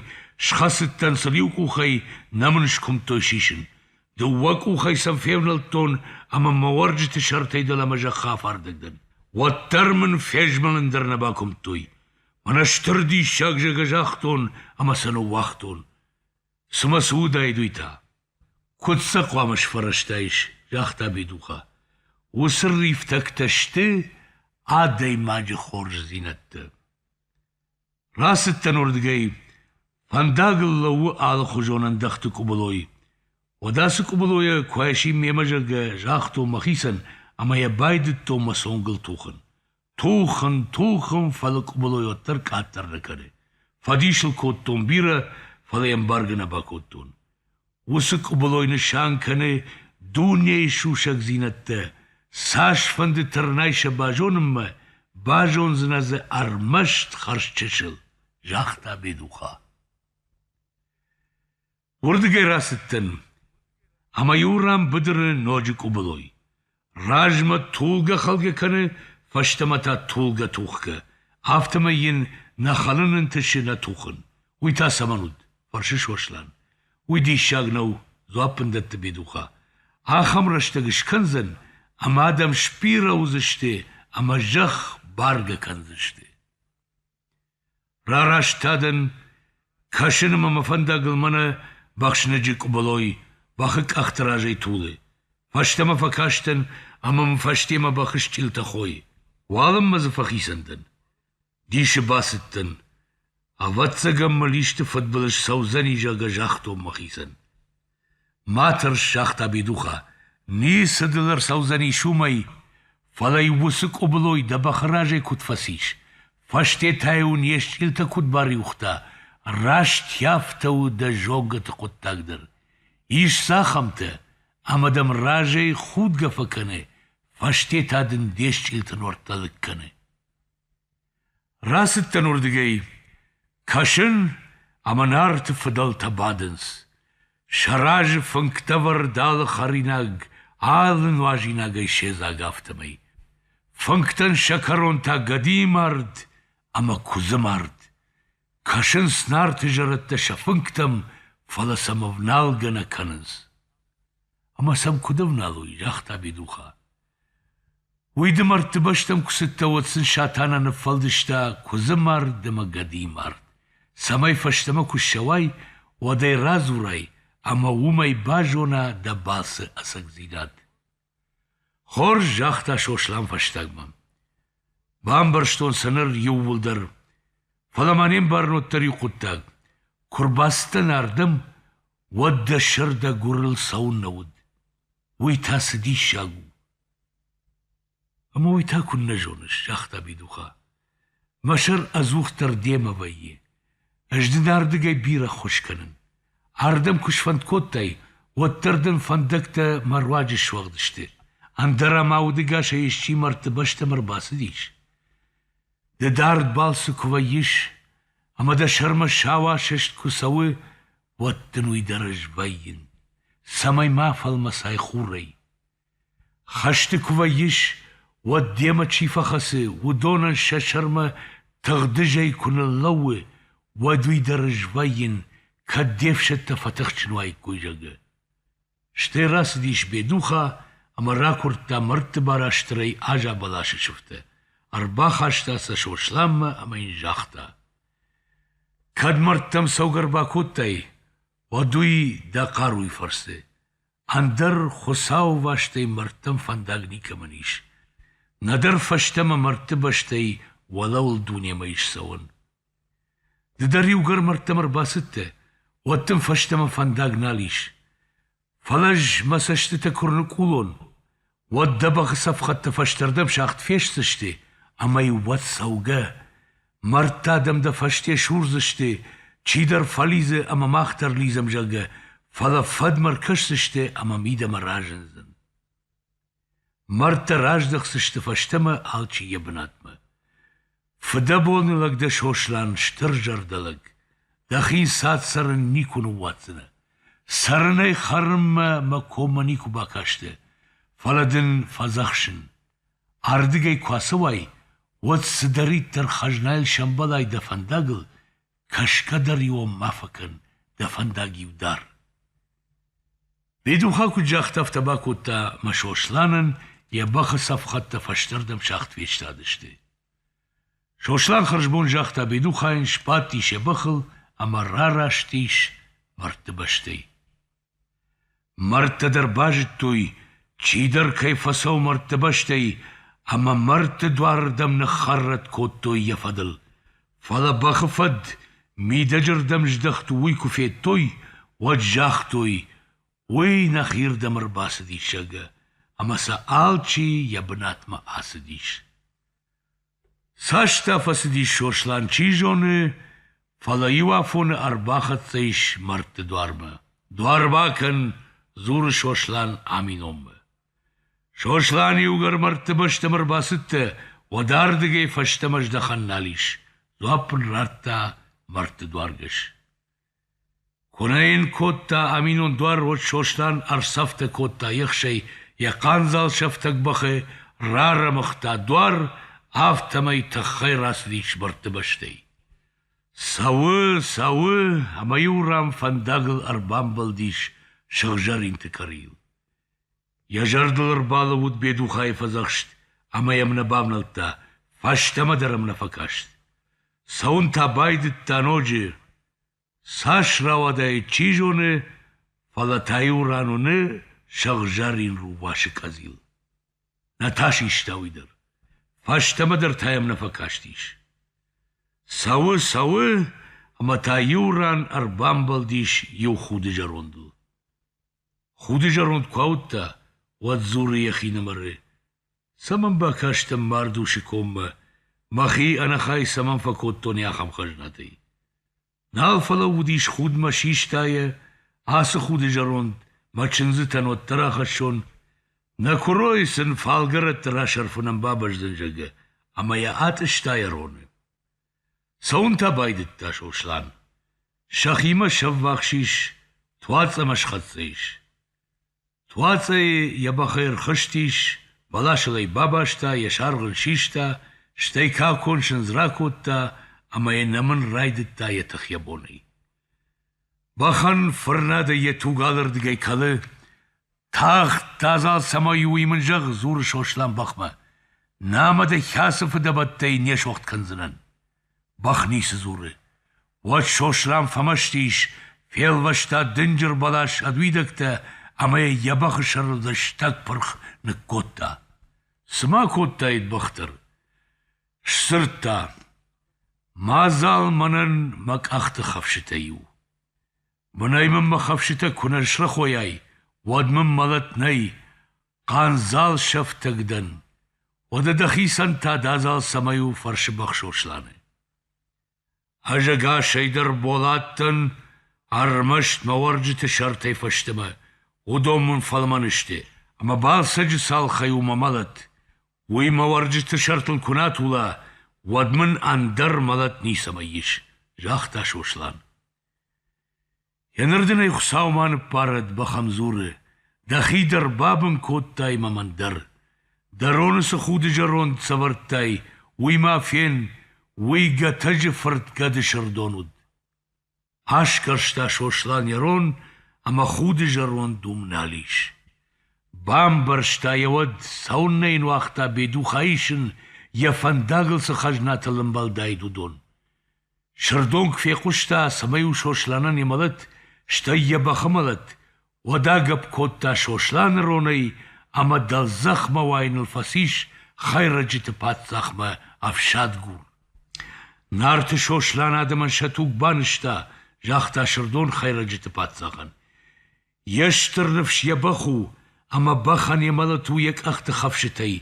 схӕцыдтӕн сын иу къухӕй, нӕ мын скуымдтой сисын. Дыууӕ къухӕй сӕм февнӕлдтон ӕмӕ мӕ уӕрджыты сӕртӕй дӕлӕмӕ зӕххы афардӕг дӕн. Уӕддӕр мын фезмӕлын дӕр нӕ бакуымдтой. Мӕнӕ стыр диссаг зӕгӕ загътон ӕмӕ сӕ ныууагътон. Цымӕ цы уыдаид уый та? Куыд сӕ хъуамӕ сфӕрӕзтаис, загъта Бедуха. Уыцы рифтӕгтӕ сты адӕймаджы хорздзинӕдтӕ. Рацыдтӕн уырдыгӕй. Фӕндагыл лӕууы алыхуызон ӕндӕхты къуыбылой. Уӕд ацы къуыбылойӕ куы айсин мемӕ, зӕгъгӕ, загътон мӕхицӕн ӕмӕ йӕ байдыдтон мӕ цонгыл тухын. Тухын-тухын, фӕлӕ къуыбылой уӕддӕр къаддӕр нӕ кӕны. Фӕдисыл кодтон бирӕ, фӕлӕ йӕ ӕмбаргӕ нӕ бакодтон. Уыцы къуыбылой нысан кӕны дунейы сусӕгдзинӕдтӕ. Цасфӕнды тырнай сӕ базонынмӕ, базондзынӕ дзы ӕрмӕст хӕрзчысыл, загъта Бедуха. Уырдыгӕй рацыдтӕн, ӕмӕ-иу ран быдыры ноджы къуыбылой. Размӕ тулгӕ-хӕлгӕ кӕны, фӕстӕмӕ та тулгӕ-тухгӕ, афтӕмӕй йын нӕ хӕлын ӕнтысы нӕ тухын. Уый та цӕмӕн уыд? фӕрсы Сослан. Уый диссаг нӕу, дзуапп ын дӕтты Бедуха. Ахӕм рӕстӕг скӕндзӕн, ӕмӕ адӕм сбирӕ уыдзысты ӕмӕ зӕхх бӕргӕ кӕндзысты. Рараст та дӕн, кӕсын ӕмӕ мӕ фӕндагыл мӕнӕ бӕхсныджы къуыбылой бӕхы къӕхты разӕй тулы. Фӕстӕмӕ фӕкастӕн ӕмӕ мын фӕстемӕ бӕхы стъилтӕ хойы. Уалынмӕ дзы фӕхицӕн дӕн. Дисы бацыдтӕн. Ӕвӕццӕгӕн мыл исты фыдбылыз цӕудзӕни, зӕгъгӕ, загътон мӕхицӕн. Ма тӕрс, загъта Бедуха, ницы дыл ӕрцӕудзӕнис уымӕй, фӕлӕ уыцы къуыбылой дӕ бӕхы разӕй куыд фӕцис, фӕстетӕ-иу не стъилтӕ куыд бариуыгъта, раст афтӕ у дӕ зонгӕты хъуыддаг дӕр. Ис цахӕмтӕ, ӕмӕ дӕм разӕй худгӕ фӕкӕны, фӕстетӕ дын де стъилты нуӕрттӕ лыг кӕны. Рацыдтӕн уырдыгӕй, кӕсын, ӕмӕ Нарты фыдӕлтӕ бадынц. Сӕ разы фынгтӕвӕрд алы хӕринаг, алы нуазинагӕй седзаг, афтӕмӕй. Фынгтӕн сӕ кӕрон та гӕдийы мард ӕмӕ куыдзы мард. Кӕсынц Нарты зӕрӕдтӕ сӕ фынгтӕм, фӕлӕ сӕм ӕвналгӕ нӕ кӕнынц. — Ӕмӕ сӕм куыд ӕвналой? — загъта Бедуха. Уый дымӕртты бӕстӕм куы цыдтӕ, уӕд сын Сатана ныффӕлдыста куыдзы мард ӕмӕ гӕдыйы мард, цӕмӕй фӕстӕмӕ куы ссӕуай, уӕд ӕй радзурай ӕмӕ уымӕй базона дӕ балцы ӕцӕгдзинад. Хорз, загъта Сослан фӕстагмӕ. Бамбӕрстон сӕ ныр иууылдӕр, фӕлӕ ма не мбарын уӕддӕр иу хъуыддаг. Куы рбацыдтӕн ардӕм, уӕд дӕ сӕр дӕ гуырыл цӕуыннӕ уыд? Уый та цы диссаг у! — Ӕмӕ уый та куыннӕ зоныс, — загъта Бидуха. — Мӕ сӕр ӕдзухдӕр демӕ вӕййы. Ӕз дын ардыгӕй бирӕ ххуыс кӕнын. Ардӕм куы сфӕнд кодтай, уӕддӕр дын фӕндӕгтӕ мӕ руаджы суӕгъд сты, ӕндӕра мӕ удыгасӕй исчи мӕрдты бӕстӕм ӕрбацыдис. Ды дард балцы куы вӕййыс, ӕмӕ дӕ сӕрмӕ сау асӕст куы цӕуы, уӕд дын уый дӕр ӕз вӕййын, цӕмӕй ма фӕлмӕцай хурӕй. Хӕсты куы вӕййыс, уӕд демӕ чи фӕхӕцы, уыдонӕн сӕ сӕрмӕ тыгъдызӕй куы ныллӕууы, уӕд уый дӕр ӕз вӕййын, кӕд де фсӕдтӕ фӕтыхджын уаиккой, зӕгъгӕ. Стӕй рацыдис Бедуха ӕмӕ ракуырдта мӕрдты барастырӕй Аза бӕласы сыфтӕ, ӕрбахаста сӕ Сосланмӕ ӕмӕ йын загъта: «Кӕд мӕрдтӕм цӕугӕ ӕрбакодтай, уӕд уый дӕ хъаруйы фӕрцы, ӕндӕр хуыцауӕвастӕй мӕрдтӕм фӕндаг никӕмӕн ис. нӕдӕр фӕстӕмӕ мӕрдты бӕстӕй уӕлӕуыл дунемӕ ис цӕуӕн. Ды дӕр иугӕр мӕрдтӕм ӕрбацыдтӕ, уӕд дын фӕстӕмӕ фӕндаг нал ис. Фӕлӕ ӕз мӕ цӕстытӕ куы ӕрныкъулон, уӕд дӕ бӕхы цӕфхӕдтӕ фӕстӕрдӕм сагъд фестдзысты ӕмӕ-иу уӕд цӕугӕ, мӕрдты адӕм дӕ фӕсте сурдзысты, чидӕр фӕлидзы ӕмӕ мах дӕр лидзӕм, зӕгъгӕ, фӕлӕ фӕдмӕ ӕркӕсдзысты ӕмӕ мидӕмӕ разындзӕн. Мӕрдтӕ раздӕхдзысты фӕстӕмӕ алчи йӕ бынатмӕ. Фыдӕбоны лӕг дӕ, Сослан, стыр зӕрдӕлӕг, дӕхи цад цӕрын никуы ныууадздзынӕ. Цӕрынӕй хӕрынмӕ мӕ коммӕ никуы бакасты, фӕлӕ дын фӕдзӕхсын. Ардыгӕй куы ацӕуай, уӕд цыдӕриддӕр хӕзнайыл сӕмбӕлай дӕ фӕндагыл, кӕсгӕ дӕр-иу ма фӕкӕн дӕ фӕндаг-иу дӕр. Бедуха куыд загъта, афтӕ бакодта мӕ Сосланӕн йӕ бӕхы цӕфхӕдтӕ фӕстӕрдӕм сагъд фестадысты. Сослан хӕрзбон загъта Бедухайӕн, сбадтис йӕ бӕхыл ӕмӕ рараст ис мӕрдты бӕстӕй. Мӕрдтӕ дӕр базыдтой, чидӕр кӕй фӕцӕуы мӕрдты бӕстӕй, ӕмӕ мӕрдты дуарырдӕм ныххӕррӕтт кодтой йӕ фӕдыл. Фӕлӕ бӕхы фӕд мидӕджырдӕм здӕхт уый куы федтой, уӕд загътой, уый нӕхирдӕм ӕрбацыдис, зӕгъгӕ, ӕмӕ сӕ алчи йӕ бынатмӕ ацыдис. Цас та фӕцыдис Сослан, чи зоны, фӕлӕ иу афоны ӕрбахӕццӕ ис мӕрдты дуармӕ. — Дуар бакӕн! — дзуры Сослан Аминонмӕ. Сослан иугӕр мӕрдты бӕстӕм ӕрбацыдтӕ, уӕд ардыгӕй фӕстӕмӕ здӕхӕн нал ис, дзуапп ын радта мӕрдты дуаргӕс. Куы нӕ йын кодта аминон дуар, уӕд Сослан ӕрцӕфтӕ кодта ехсӕй йӕ хъандзал сӕфтӕг бӕхы, рарӕмыгъта дуар, афтӕмӕй тыххӕй рацыдис мӕрдты бӕстӕй. Цӕуы, цӕуы, ӕмӕ иу ран фӕндагыл ӕрбамбӕлдис сыгъзӕринты къӕрийыл. Йӕ зӕрдыл ӕрбалӕууыд Бедухайы фӕдзӕхст ӕмӕ йӕм нӕ бавнӕлдта, фӕстӕмӕ дӕр ӕм нӕ фӕкаст. Цӕуын та байдыдта ноджы. Цас рауадаид, чи зоны, фӕлӕ та-иу ран уыны сыгъзӕрин рувасы къӕдзил. Нӕ та систа уый дӕр. Фӕстӕмӕ дӕр та йӕм нӕ фӕкастис. Цӕуы, цӕуы, ӕмӕ та иу ран ӕрбамбӕлдис иу худы зӕрондыл. Худы зӕронд куы ауыдта, уӕд дзуры йӕхинымӕры: «Цӕмӕн бакастӕн Мардушы коммӕ? Мӕхи ӕнӕхай цӕмӕн фӕкодтон ахӕм хӕзнатӕй?» Нал фӕлӕууыдис худмӕ систайӕ, ацы худы зӕронд мӕ чындзытӕн уӕддӕр ахӕссон, нӕ куыройы сын фалгӕрӕтты расӕрфынӕн бабӕздзӕн, зӕгъгӕ, ӕмӕ йӕ атъыста йӕ роны. Цӕуын та байдыдта Сослан. Сӕхимӕ се ввахс ис Туац ӕмӕ схӕццӕ ис. Туацӕйы йӕ бӕхӕй ӕрхызтис, бӕласыл ӕй бабаста, йӕ саргъ ын систа, стӕй какон сындз ракодта ӕмӕ йӕ нӕмын райдыдта йӕ тых-йӕ бонӕй. Бӕхӕн фырнӕды йӕ туг алырдыгӕй кӕлы, тагъд адзал цӕмӕй у, уый мын зӕгъ, дзуры Сослан бӕхмӕ. Нӕ мӕ дӕ хӕцы фыдӕбӕттӕй не согъд кӕндзынӕн. Бӕх ницы дзуры. Уӕд Сослан фӕмӕсты ис, фелвӕста дынджыр бӕлас ӕд уидӕгтӕ ӕмӕ йӕ бӕхы сӕрыл лыстӕг пырх ныккодта. Цы ма кодтаид бӕх дӕр? Сдзырдта: «Мадзал мӕнӕн мӕ къӕхты хӕфсытӕй у. Бынӕй мын мӕ хӕфсытӕ куы нӕ срӕхойай, уӕд мын мӕлӕт нӕй, хъандзал сӕфтӕг дӕн. Уӕдӕ дӕхицӕн та дӕ адзал цӕмӕй у, фӕрсы бӕхсо Сланы. Ӕз ӕгасӕй дӕр болаттӕн ӕрмӕст мӕ уӕрджыты сӕртӕй фӕстӕмӕ уыдон мын фӕлмӕн сты, ӕмӕ Балсӕджы цалхӕй у мӕ мӕлӕт. уый мӕ уӕрджыты сӕртыл куы нӕ тула, уӕд мын ӕндӕр мӕлӕт ницӕмӕй ис, загъта Сослан. Йенырдын ӕй Хуыцау ма ныббарӕд, бӕхӕн дзуры, дӕхи дӕр бабын кодтай мӕ мӕн дӕр. Дӕ роны цы худы зӕронд сӕвӕрдтай, уый ма фен, уый Гӕтӕджы фырт гӕды сырдон уыд. Асгӕрста Сослан йӕ рон ӕмӕ худы зӕронд уым нал ис. Бамбӕрста йӕ уӕд, цӕуыннӕ йын уагъта Бедуха исын, йӕ фӕндагыл цы хӕзнатыл ӕмбӕлдаид, уыдон. Сырдон куы фехъуыста, цӕмӕй у Сосланӕн йӕ мӕлӕт, стӕй йӕ бӕхы мӕлӕт, уӕд агӕпп кодта Сосланы ронӕй ӕмӕ дӕлдзӕхмӕ уайыныл фӕцис хӕйрӕджыты паддзахмӕ ӕфсадгур. Нарты Сослан адӕмӕн сӕ туг банызта, загъта Сырдон хӕйрӕджыты паддзахӕн. Йе стыр ныфс йӕ бӕх у, ӕмӕ бӕхӕн йӕ мӕлӕт у йӕ къӕхты хӕфсытӕй,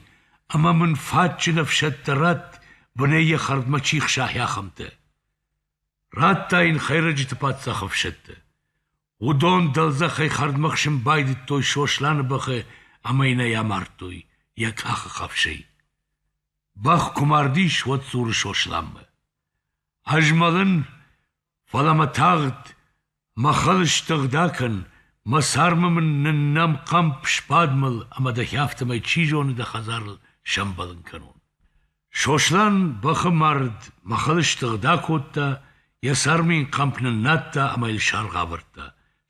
ӕмӕ мын фӕдджын ӕфсӕдтӕ ратт, бынӕй йӕ хӕрдмӕ чи хсайы, ахӕмтӕ. Радта йын Хӕйрӕджыты паддзахы ӕфсӕдтӕ. Уыдон дӕлдзӕхӕй хӕрдмӕ хсын байдыдтой Сосланы бӕхы ӕмӕ йын ӕй амардтой йӕ къахы хӕфсӕй. Бӕх куы мардис, уӕд дзуры Сосланмӕ: Ӕзмӕлын, фӕлӕ мӕ тагъд Махыл стыгъда кӕн, мӕ цармы мын ныннӕм хъӕмп сбадмыл ӕмӕ дӕхи афтӕмӕй, чи зоны, дӕ хӕдзарыл сӕмбӕлын кӕнон. Сослан бӕхы мард махыл стыгъда кодта, йӕ цармы йын хъӕмп ныннадта ӕмӕ йыл саргъ авӕрдта,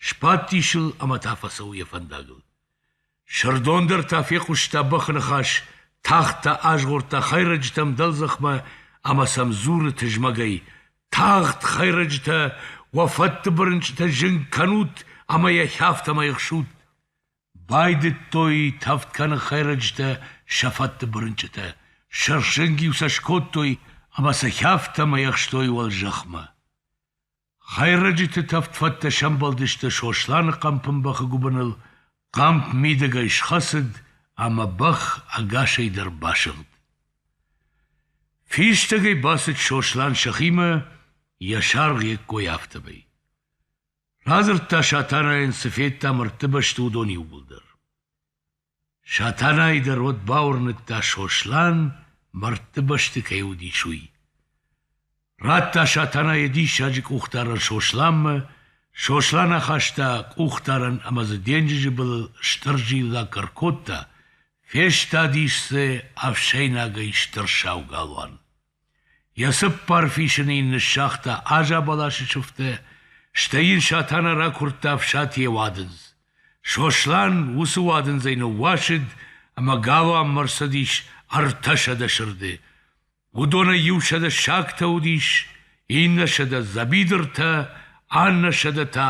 сбадтис ыл ӕмӕ та фӕцӕуы йӕ фӕндагыл. Сырдон дӕр та фехъуыста бӕхы ныхас, тагъд та азгъордта хӕйрӕджытӕм дӕлдзӕхмӕ ӕмӕ сӕм дзуры тызмӕгӕй: «Тагъд, хӕйрӕджытӕ, уӕ фӕддыбырынчъытӕ зынг кӕнут ӕмӕ йӕхи афтӕмӕй ӕхсут!» Байдыдтой тӕвд кӕны хӕйрӕджытӕ сӕ фӕддыбырынчъытӕ, сырхзынг-иу сӕ скодтой ӕмӕ сӕхи афтӕмӕй ӕхстой уӕлзӕхмӕ. Хӕйрӕджыты тӕвдфӕдтӕ сӕмбӕлдысты Сосланы хъӕмпын бӕхы гуыбыныл, хъӕмп мидӕгӕй схӕцыд ӕмӕ бӕх ӕгасӕй дӕр басыгъд. Фистӕгӕй бацыд Сослан сӕхимӕ, йӕ саргъ йе ккой афтӕмӕй. Радзырдта Сатанайӕн, цы федта мӕрдты бӕсты, уыдон иууылдӕр. Сатанайы дӕр уӕд бауырныдта, Сослан мӕрдты бӕсты кӕй уыдис, уый. Радта Сатана йӕ диссаджы къухдарӕн Сосланмӕ, Сослан ахаста къухдарӕн ӕмӕ дзы денджызы былыл стыр зиллакк ӕркодта, фестадис дзы ӕфсӕйнагӕй стыр сау галуан. Йӕ цыппар фисыны йын ныссагъта азӕбӕласы сыфтӕ, стӕй йын Сатана ракуырдта ӕфсатийӕ уадындз. Сослан уыцы уадындзӕй ныууасыд ӕмӕ галуанмӕ рцыдис ӕртӕсӕдӕ сырды. Уыдонӕй иу сӕдӕ сагтӕ уыдис, иннӕ сӕдӕ дзӕбидыртӕ, аннӕ сӕдӕ та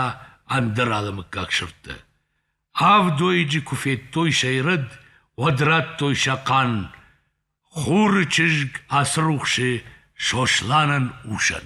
ӕндӕр алымыггаг сырдтӕ. Авд уӕйыджы куы федтой сӕ ирӕд, уӕд радтой сӕ хъан. Хуры чызг Ацырухсы Сосланӕн усӕн.